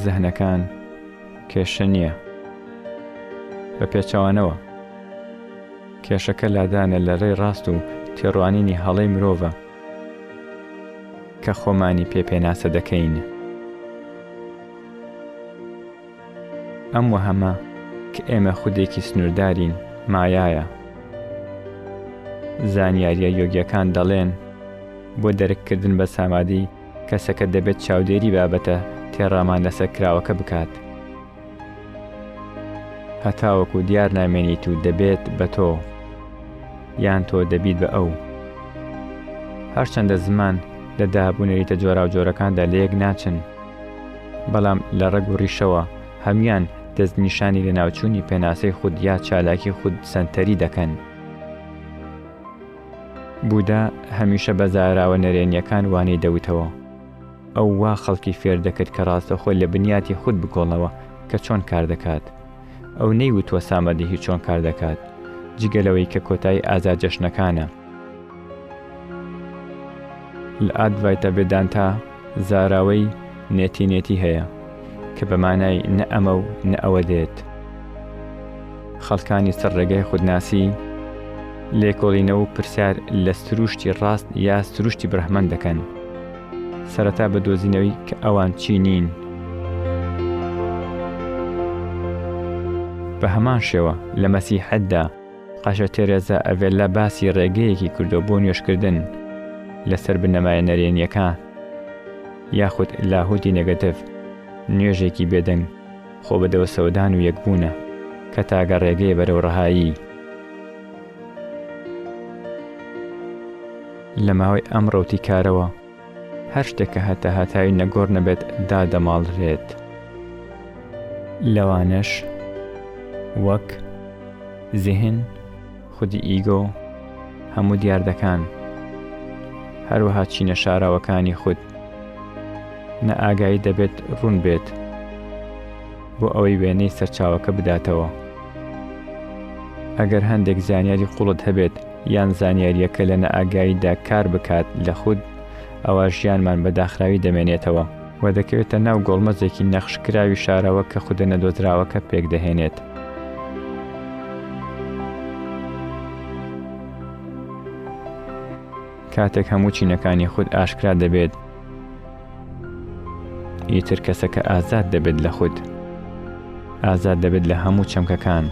زەهنەکان کێشە نیە بە پێچەوانەوە کێشەکە لادانە لە ڕێی ڕاست و تێڕوانینی هەڵەی مرۆڤە. کە خۆمانی پێ پێناسە دەکەین. ئەم وەهەمە کە ئێمە خودێکی سنووردارین، مایایە. زانیارییە یۆگییەکان دەڵێن، بۆ دەرککردن بە سامادی، کەسەکە دەبێت چاودێری بابەتە تێڕامان لەسەر کراوەکە بکات. هەتاوەکو دیار نامێنیت و دەبێت بە تۆ یان تۆ دەبیت بە ئەو هەرچەندە زمان لە دابوونەریتە جۆراوجۆرەکاندا لە یەک ناچن بەڵام لە ڕەگ و ڕیشەوە هەموان دەست نیشانی لەناوچوونی پێناسەی خود یا چالاکی خود سەنتەری دەکەن. بودا هەمیشە بە زاراوە نەرێنیەکان وانەی دەوتەوە. ئەو وا خەڵکی فێر دەکرد کە ڕاستەوخۆ لە بنیاتی خود بکۆڵنەوە کە چۆن کار دەکات. ئەو نەیوتووە سامەدیهی چۆن کار دەکات، جگە لەوەی کە کۆتایی ئازا جەشنەکانە. لە ئادڤایتا ڤێدانتا زاراوەی نێتی نێتی هەیە، کە بە مانای نە ئەمە و نە ئەوە دێت. خەڵکانی سەر ڕێگای خودناسی، لێکۆڵینەوە و پرسیار لە سروشتی ڕاست یا سروشتی برهمەن دەکەن، سەرەتا بە دۆزینەوەی کە ئەوان چی نین. بە هەمان شێوە لە مەسیحەتدا قەشە تێرێزا ئەڤێلا باسی ڕێگەیەکی کردو بۆ نوێشکردن لەسەر بنەمایە نەرێنیەکان یاخود لاهوتی نێگەتڤ، نوێژێکی بێدەنگ. خۆ بە دەوسەودان و یەکبوونە کە تاگە ڕێگەیە بەرەو ڕەهایی. لە ماوەی ئەم ڕەوتی کارەوە هەر شتێک کە هەتا هەتاوی نەگۆڕ نەبێت دادەماڵرێت. لەوانەش وەک زیهن، خودی ئیگۆ، هەموو دیاردەکان، هەروەها چینە شاراوەکانی خود، نە ئاگایی دەبێت ڕوون بێت بۆ ئەوەی وێنەی سەرچاوەکە بداتەوە. ئەگەر هەندێک زانیاری قوڵت هەبێت یان زانیاریەکە لە نەئاگاییدا کار بکات لە خود، ئەوا ژیانمان بە داخراوی دەمێنێتەوە. و دەکەوێتە ناو گۆڵمەزێکی نەخشکراوی شارەوە کە خودە نەدۆزراوەکە پێکدەهێنێت. کاتێک هەموو چینەکانی خود ئاشکرا دەبێت ئیتر کەسەکە ئازاد دەبێت لە خود ئازاد دەبێت لە هەموو چەمکەکان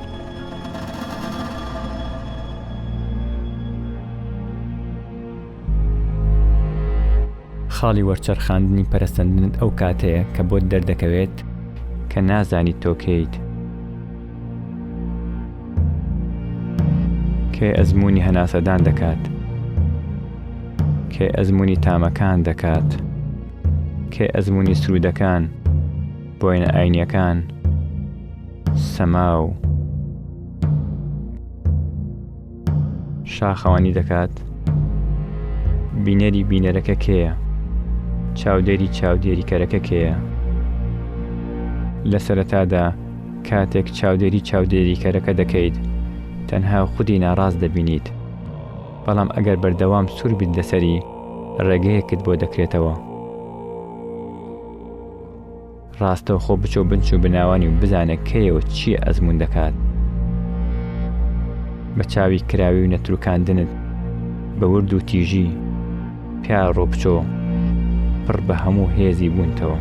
خاڵی وەرچەرخاندنی پەرەسەندنت ئەو کاتەیە کە بۆت دەردەکەوێت کە نازانیت تۆ کێیت. کێ ئەزموونی هەناسەدان دەکات کێ ئەزمموی تامەکان دەکات کێ ئەزمموی سرودەکان بۆینە ئاینیەکان سەما و شاخەوانی دەکات بینەری بینەرەکە کێیە چاودێری چاودێریکەرەکە کێیە لە سەرەتادا کاتێک چاودێری چاودێریکەرەکە دەکەیت تەنها خودی ناڕاست دەبینیت بەڵام ئەگەر بەردەوام سوور بیت لەسەری ڕێگەیەکت بۆ دەکرێتەوە ڕاستەوخۆ بچۆ بنچ و بناوانی و بزانە کەیە و چییە ئەزموون دەکات. بە چاوی کراوی و نەتروکاندنت بە ورد و تیژی پیا ڕۆبچۆ پڕ بە هەموو هێزی بوونتەوە.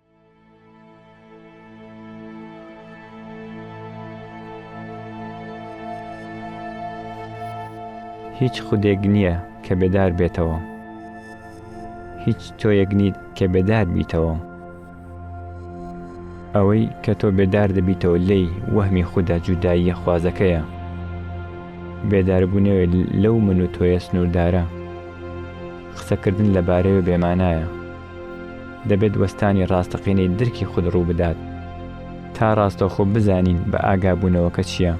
هیچ خودێک نییە کە بێدار بێتەوە هیچ تۆیەک نیت کە بێدار بیتەوە ئەوەی کە تۆ بێدار دەبیتەوە لی وەهمی خوددا جوداییە خوازەکەیە بێداربوونەوە لەو من و تۆیە سنووردارە قسەکردن لەبارەوە بێمانایە دەبێت وەستانی ڕاستەقینەی درکی خود ڕووبدات تا ڕاستەوخۆ بزانین بە ئاگابوونەوەکە چییە،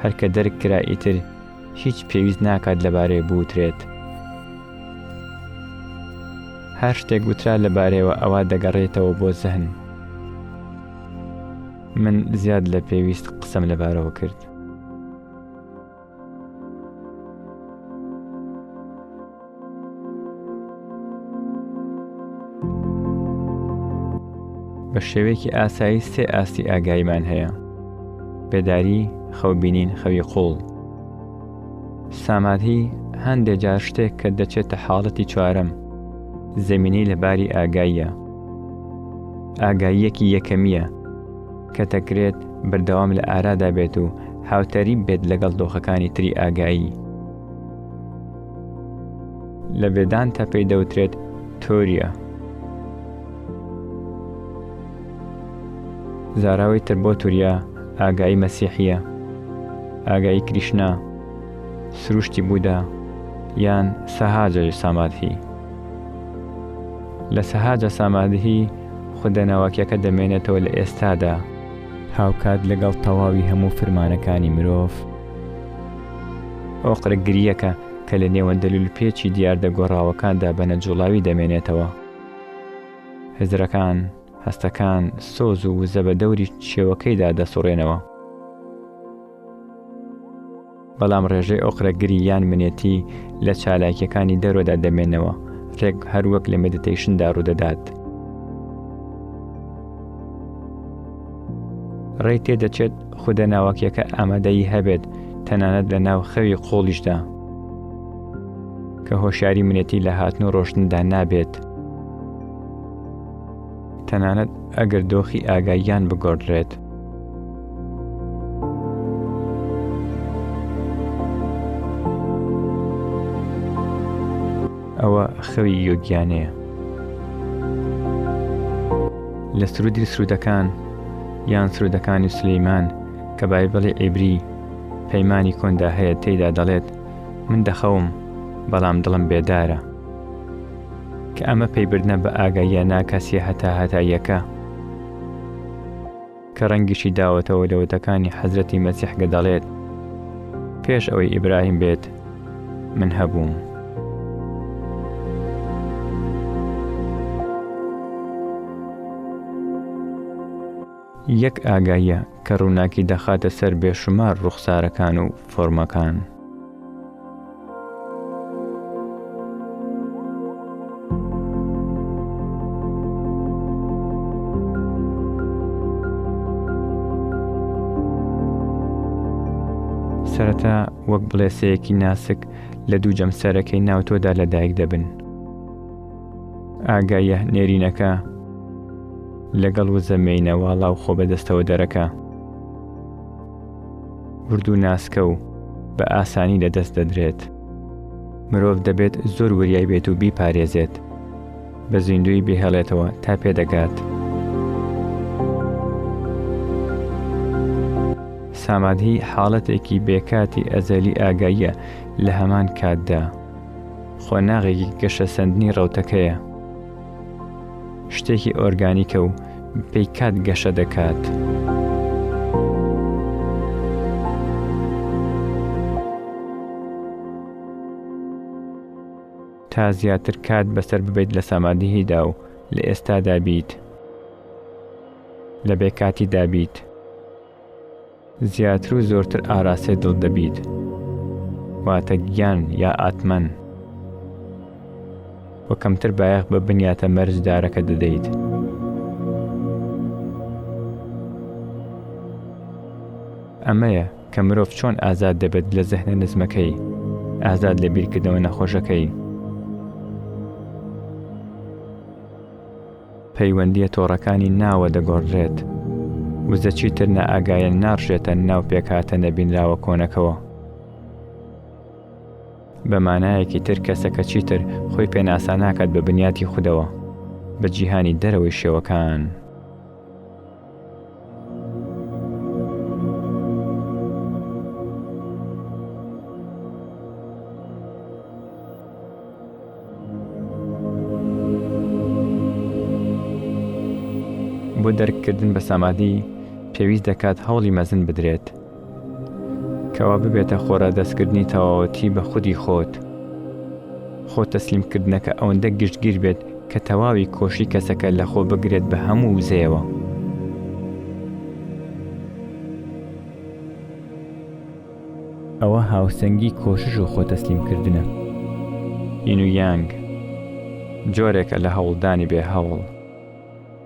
هەر کە دەرک کرا ئیتر هیچ پێویست ناکات لەبارەی بوترێت. هەر شتێک وترا لەبارەیەوە ئەوا دەگەڕێتەوە بۆ زەهن. من زیاد لە پێویست قسەم لەبارەوە کرد. بە شێوەیەکی ئاسایی سێ ئاستی ئاگاییمان هەیە بێداری خەوبینین خەوی قوڵ سامادهی هەندێک جار شتێک کە دەچێتە حاڵەتی چوارم زمینی لە باری ئاگاییە ئاگاییەکی یەکەمیە کە دەکرێت بەردەوام لە ئارادا بێت و هاوتەریب بێت لەگەڵ دۆخەکانی تری ئاگایی. لە بێدانتە پێی دەوترێت تۆریە. زاراوەی تر بۆ توریا ئاگایی مەسیحیە ئاگایی کریشنا سروشتی بوودا یان سەهاجە سامادهی لە سەهاجە سامادهی خودە ناوەکیەکە دەمێنێتەوە لە ئێستادا. هاوکات لەگەڵ تەواوی هەموو فرمانەکانی مرۆڤ. ئۆقرە گریەکە کە لە نێوەندە لولپێچی دیاردە گۆڕاوەکاندا بە نەجوڵاوی دەمێنێتەوە. هزرەکان، هەستەکان، سۆز و وزە بە دەوری شێوەکەیدا دەسوڕێنەوە. بەڵام ڕێژەی ئۆقرەگری یان منێتی لە چالاکیەکانی دەرۆدا دەمێنەوە ڕێک هەروەک لە مدیتیشندا ڕوودەدات ڕێ تێدەچێت خودە ناوەکیەکە ئامادەی هەبێت تەنانەت لە ناو خەوی قۆڵیشدا کە هۆشیاری منێتی لە هاتن و ڕۆشتندا نابێت تەنانەت ئەگەر دۆخی ئاگاییان بگۆڕدرێت. ئەوە خەوی یۆگیانەیە لە سرودی سرودەکان یان سرودەکانی سلیمان کە بایبڵی عیبری پەیمانی کۆندا هەیە تێیدا دەڵێت من دەخەوم بەڵام دڵم بێدارە کە ئەمە پەیبردنە بە ئاگاییە ناکەسیە هەتاهەتاییەکە کە ڕەنگیشی داوەتەوە لە وتەکانی حەزرەتی مەسیح کە دەڵێت پێش ئەوەی ئیبراهیم بێت من هەبووم. یەک ئاگاییە کە ڕووناکی دەخاتە سەر بێشومار ڕوخسارەکان و فۆرمەکان. سەرەتا وەک بڵێسەیەکی ناسک لە دوو جەمسەرەکەی ناو تۆدا لەدایک دەبن. ئاگاییە نێرینەکە لەگەڵ وزە مێینە واڵا و خۆ بەدەستەوە دەرەکە ورد و ناسکە و بە ئاسانی لە دەست دەدرێت مرۆڤ دەبێت زۆر وریای بێت و بیپارێزێت بە زیندوی بهێڵێتەوە تا پێدەگات سامادهی حاڵەتێکی بێکاتی ئەزەلی ئاگاییە لە هەمان کاتدا. قۆناغێکی گەشەسەندنی ڕەوتەکەیە شتێکی ئۆرگانیکە و پێی کات گەشە دەکات. تا زیاتر کات بەسەر ببیت لە سامادهیدا و لە ئێستادا بیت لە بێکاتی دابیت زیاتر و زۆرتر ئاراستەی دڵ دەبیت واتە گیان یا ئاتمەن و کەمتر بایەخ بە بنیاتە مەرجدارەکە دەدەیت. ئەمەیە کە مرۆڤ چۆن ئازاد دەبێت لە زەهنە نزمەکەی ئازاد لە بیرکردنەوە نەخۆشەکەی پەیوەندیە تۆڕەکانی ناوە دەگۆڕدرێت وزە چیتر نائاگایەن ناڕژێتە ناو پێکهاتە نەبینراوە کۆنەکەوە. بە مانایەکی تر کەسەکە چیتر خۆی پێناسا ناکات بە بنیاتی خودەوە بە جیهانی دەرەوەی شێوەکان. بۆ دەرککردن بە سامادی پێویست دەکات هەوڵی مەزن بدرێت کەوا ببێتە خۆرا دەستکردنی تەواوەتی بە خودی خۆت خۆ تەسلیمکردنەکە ئەوەندە گشتگیر بێت کە تەواوی کۆشی کەسەکە لە خۆ بگرێت بە هەموو وزەیەوە ئەوە هاوسەنگی کۆشش و خۆ تەسلیمکردنە ئین و یانگ جۆرێکە لە هەوڵدانی بێ هەوڵ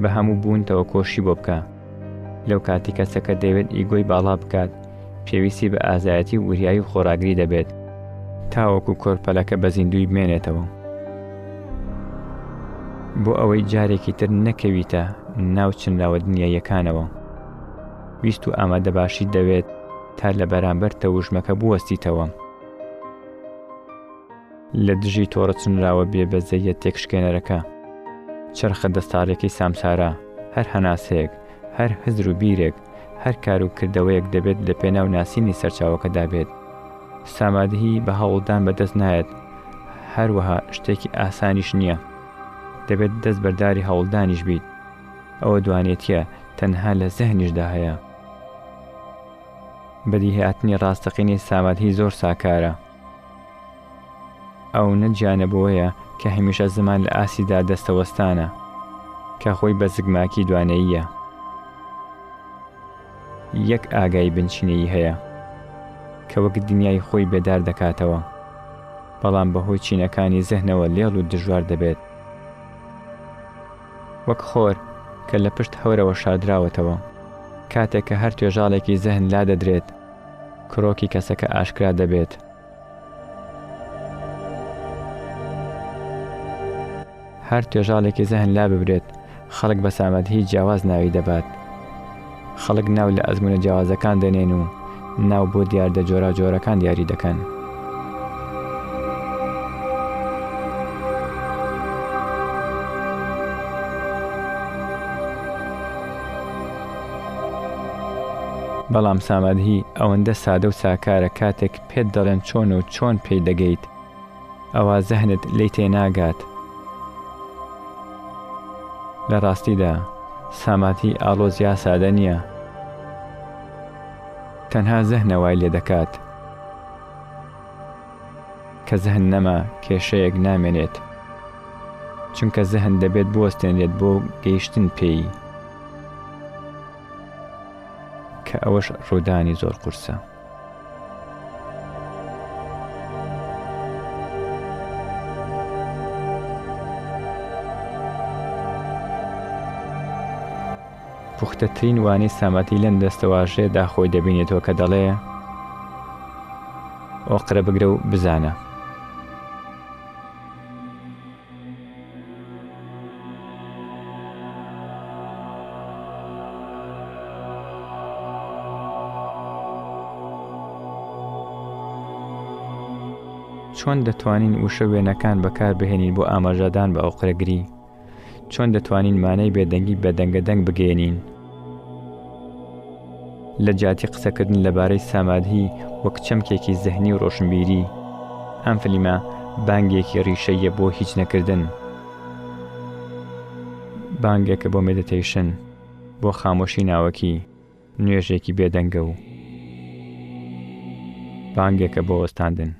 بە هەموو بوونتەوە کۆششی بۆ بکە. لەو کاتی کەسەکە دەیەوێت ئیگۆی باڵا بکات، پێویستی بە ئازایەتی و وریایی و خۆراگری دەبێت، تاوەکو کۆرپەلەکە بە زیندووی بمێنێتەوە. بۆ ئەوەی جارێکی تر نەکەویتە ناو چنراوە دنیاییەکانەوە، ویست و ئامادەباشیت دەوێت تا لە بەرامبەر تەوژمەکە بوەستیتەوە. لە دژی تۆڕە چنراوە بێ بەزەییە تێکشکێنەرەکە، چەرخە دەستاڕیەکەی سامسارا، هەر هەناسەیەک، هەر هزر و بیرێک، هەر کار و کردەوەیەک دەبێت لە پێناو ناسینی سەرچاوەکەدا بێت. سامادهی بە هەوڵدان بە دەست نایەت، هەروەها شتێکی ئاسانیش نییە. دەبێت دەست بەرداری هەوڵدانیش بیت. ئەوە دوانێتییە تەنها لە زهنیشدا هەیە. بەدیهاتنی ڕاستەقینەی سامادهی زۆر ساکارە. ئەو نە جیانە بەوەیە کە هەمیشە زمان لە ئاستی دا دەستە وەستانە، کە خۆی بە زگماکی دوانەییە. یەک ئاگایی بنچینەیی هەیە، کە وەک دنیای خۆی بێدار دەکاتەوە، بەڵام بە هۆی چینەکانی زهنەوە لێڵ و دژوار دەبێت. وەک خۆر کە لە پشت هەورەوە شاردراوەتەوە. کاتێک کە هەر توێژاڵێکی زهن لا دەدرێت، کرۆکی کەسەکە ئاشکرا دەبێت. هەر توێژاڵێکی زەهن لاببرێت، خەڵک بە سامەدهی جیاواز ناوی دەبات. خەڵک ناو لە ئەزموونە جیاوازەکان دەنێن و ناو بۆ دیاردە جۆراوجۆرەکان دیاری دەکەن. بەڵام سامادهی ئەوەندە سادە و ساکارە کاتێک پێت دەڵێن چۆنە و چۆن پێی دەگەیت ئەوا زەهنت لێی تێناگات. لە ڕاستیدا سامادهی ئاڵۆز یا سادە نییە. تەنها زەهنە وای لێ دەکات. کە زەهن نەما کێشەیەک نامێنێت. چونکە زەهن دەبێت بوەستێنرێت بۆ گەیشتن پێی. کە ئەوەش ڕوودانی زۆر قورسە. پوختەترین وانەی سامەتی لەم دەستەواژەیەدا خۆی دەبینێتەوە کە دەڵێ ئۆقرە بگرە و بزانە چۆن دەتوانین وشە وێنەکان بەکاربهێنین بۆ ئاماژەدان بە ئەوقرەگری چۆن دەتوانین مانای بێدەنگی بەدەنگە دەنگ بگەێنین لە جیاتی قسەکردن لەبارەی سامادهی وەک چەمکێکی زەهنی و ڕۆشنبیری ئەم فلیمە بانگێکی ڕیشەیە بۆ هیچ نەکردن بانگێکە بۆ مدتەیشن بۆ خامۆشی ناوەکی نوێژێکی بێدەنگە و بانگێکە بۆ وەستاندن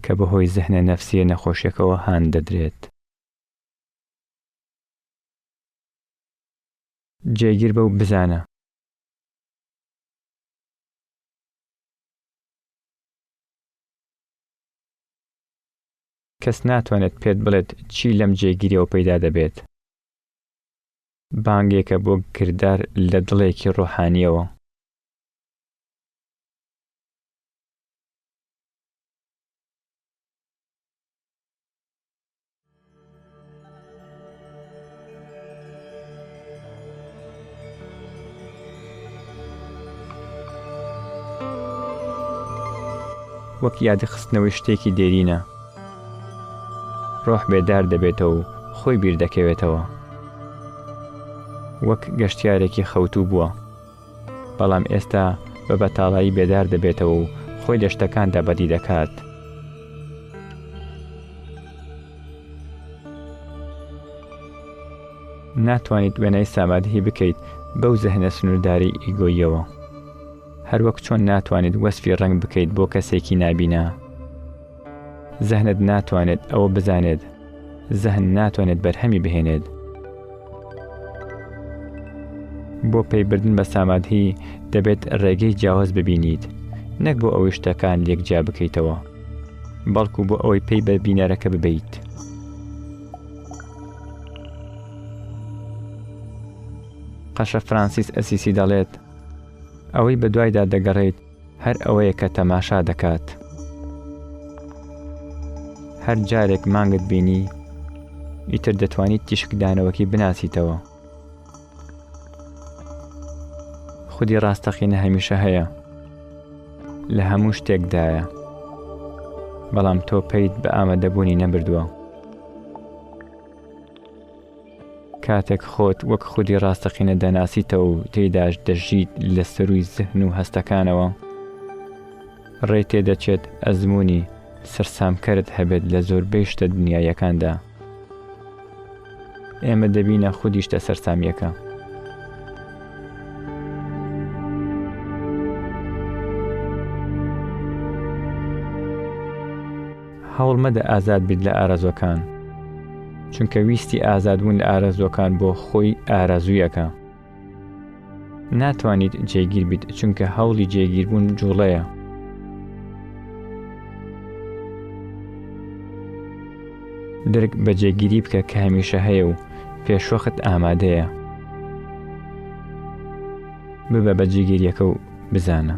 کە بەهۆی زهنە نەفسیە نەخۆشیەکەوە هان دەدرێت. جێگیر بە و بزانە. کەس ناتوانێت پێت بڵێت چی لەم جێگیریەوە پەیدا دەبێت. بانگێکە بۆ کردار لە دڵێکی ڕۆحانیەوە. وەک یادخستنەوەی شتێکی دێرینە ڕۆح بێدار دەبێتەوە و خۆی بیردەکەوێتەوە وەک گەشتیارێکی خەوتوو بووە بەڵام ئێستا بە بەتاڵایی بێدار دەبێتەوە و خۆی لە شتەکاندا بەدی دەکات. ناتوانیت وێنای سامادهی بکەیت بەو زەهنە سنوورداری ئیگۆیەوە هەروەک چۆن ناتوانیت وەسفی ڕنگ بکەیت بۆ کەسێکی نابینا زەهنت ناتوانێت ئەوە بزانێت. زەهن ناتوانێت بەرهەمی بهێنێت. بۆ پەیبردن بە سامادهی دەبێت ڕێگەی جیاواز ببینیت، نەک بۆ ئەوەی شتەکان لێک جیا بکەیتەوە، بەڵکو بۆ ئەوەی پێی بە بینەرەکە ببیت. قەشە فرانسیس ئەسیسی دەڵێت، ئەوەی بە دوایدا دەگەڕێیت، هەر ئەوەیە کە تەماشا دەکات. هەر جارێک مانگت بینی ئیتر دەتوانیت تیشکدانەوەکی بناسیتەوە خودی ڕاستەقینە هەمیشە هەیە لە هەموو شتێکدایە بەڵام تۆ پێیت بە ئامادەبوونی نەبردووە. کاتێک خۆت وەک خودی ڕاستەقینە دەناسیتەوە و تێیداش دەژیت لە سەرووی زهن و هەستەکانەوە، ڕێی تێدەچێت ئەزموونی سەرسامکەرت هەبێت لە زۆربەی شتە دنیاییەکاندا. ئێمە دەبینە خودی شتە سەرسامییەکە. هەوڵ مەدە ئازاد بیت لە ئارەزوەکان چونکە ویستی ئازاد بوون لە ئارەزوەکان بۆ خۆی ئارەزویەکە ناتوانیت جێگیر بیت چونکە هەوڵی جێگیربوون جوڵەیە درک بە جێگیری بکە کە هەمیشە هەیە و پێشوەخت ئامادەیە ببە بە جێگیریەکە و بزانە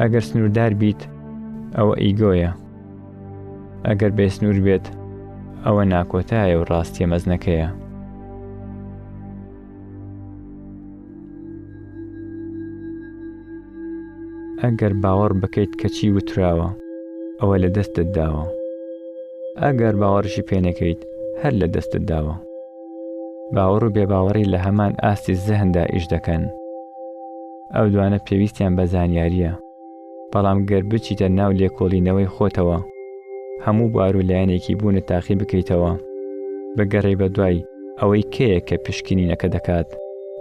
ئەگەر سنووردار بیت ئەوە ئیگۆیە ئەگەر بێسنوور بێت ئەوە ناکۆتایە و ڕاستیە مەزنەکەیە ئەگەر باوەڕ بکەیت کەچی وتراوە ئەوە لە دەستت داوە ئەگەر باوەڕشی پێنەکەیت هەر لە دەستت داوە باوەڕ و بێباوەڕی لە هەمان ئاستی زەهندا ئیش دەکەن ئەو دوانە پێویستیان بە زانیارییە، بەڵام گەر بچیتە ناو لێکۆڵینەوەی خۆتەوە، هەموو بوار و لایەنێکی بوونت تاقی بکەیتەوە، بگەڕێی بە دوای ئەوەی کێیە کە پشکنینەکە دەکات،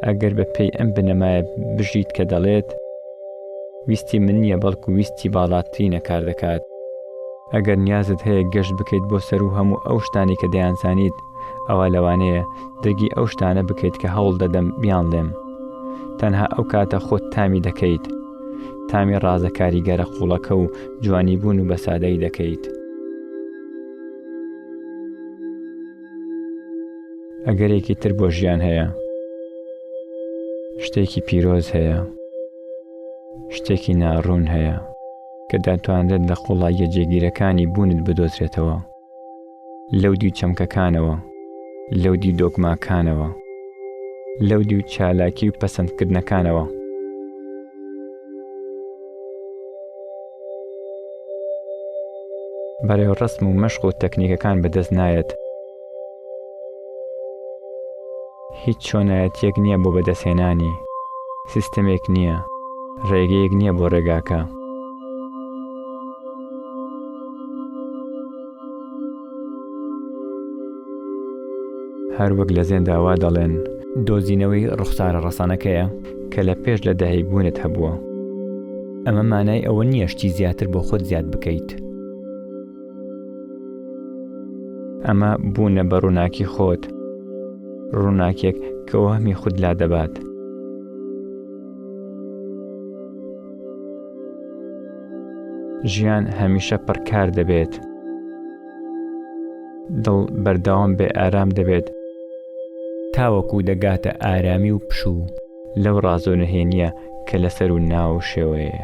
ئەگەر بە پێی ئەم بنەمایە بژیت کە دەڵێت، ویستی من نییە بەڵکو ویستی باڵاترینە کار دەکات. ئەگەر نیازت هەیە گەشت بکەیت بۆ سەروو هەموو ئەو شتانەی کە دەیانزانیت، ئەوا لەوانەیە دەگی ئەو شتانە بکەیت کە هەوڵ دەدەم بیان لێم تەنها ئەو کاتە خۆت تامی دەکەیت تامی ڕازە کاریگەرە قوڵەکە و جوانی بوون و بەسادەی دەکەیت ئەگەرێکی تر بۆ ژیان هەیە شتێکی پیرۆز هەیە شتێکی ناڕوون هەیە کە دەتوانرێت لە قوڵاییە جێگیرەکانی بوونت بدۆزرێتەوە لەودیو چەمکەکانەوە، لەودیو دۆگماکانەوە، لەودیو چالاکی و پەسەندکردنەکانەوە. بەڕێوڕەسم و مەشق و تەکنیکەکان بەدەست نایەت. هیچ چۆنایەتیەک نیە بۆ بەدەستهێنانی، سیستەمێک نیە، ڕێگەیەک نیە بۆ ڕێگاکە. هەر وەک لە زێندا وا دەڵێن. دۆزینەوەی ڕوخسارە ڕەسەنەکەیە کە لە پێش لە داهی بوونت هەبووە. ئەمە مانای ئەوە نیە شتی زیاتر بۆ خۆت زیاد بکەیت. ئەمە بوونە بە ڕووناکی خۆت ڕووناکێک کە وەهمی خود لا دەبات ژیان هەمیشە پڕکار دەبێت دڵ بەردەوام بێ ئارام دەبێت تاوەکو دەگاتە ئارامی و پشوو لەو ڕازۆ نهێنیە کە لەسەر و ناو شێوەیە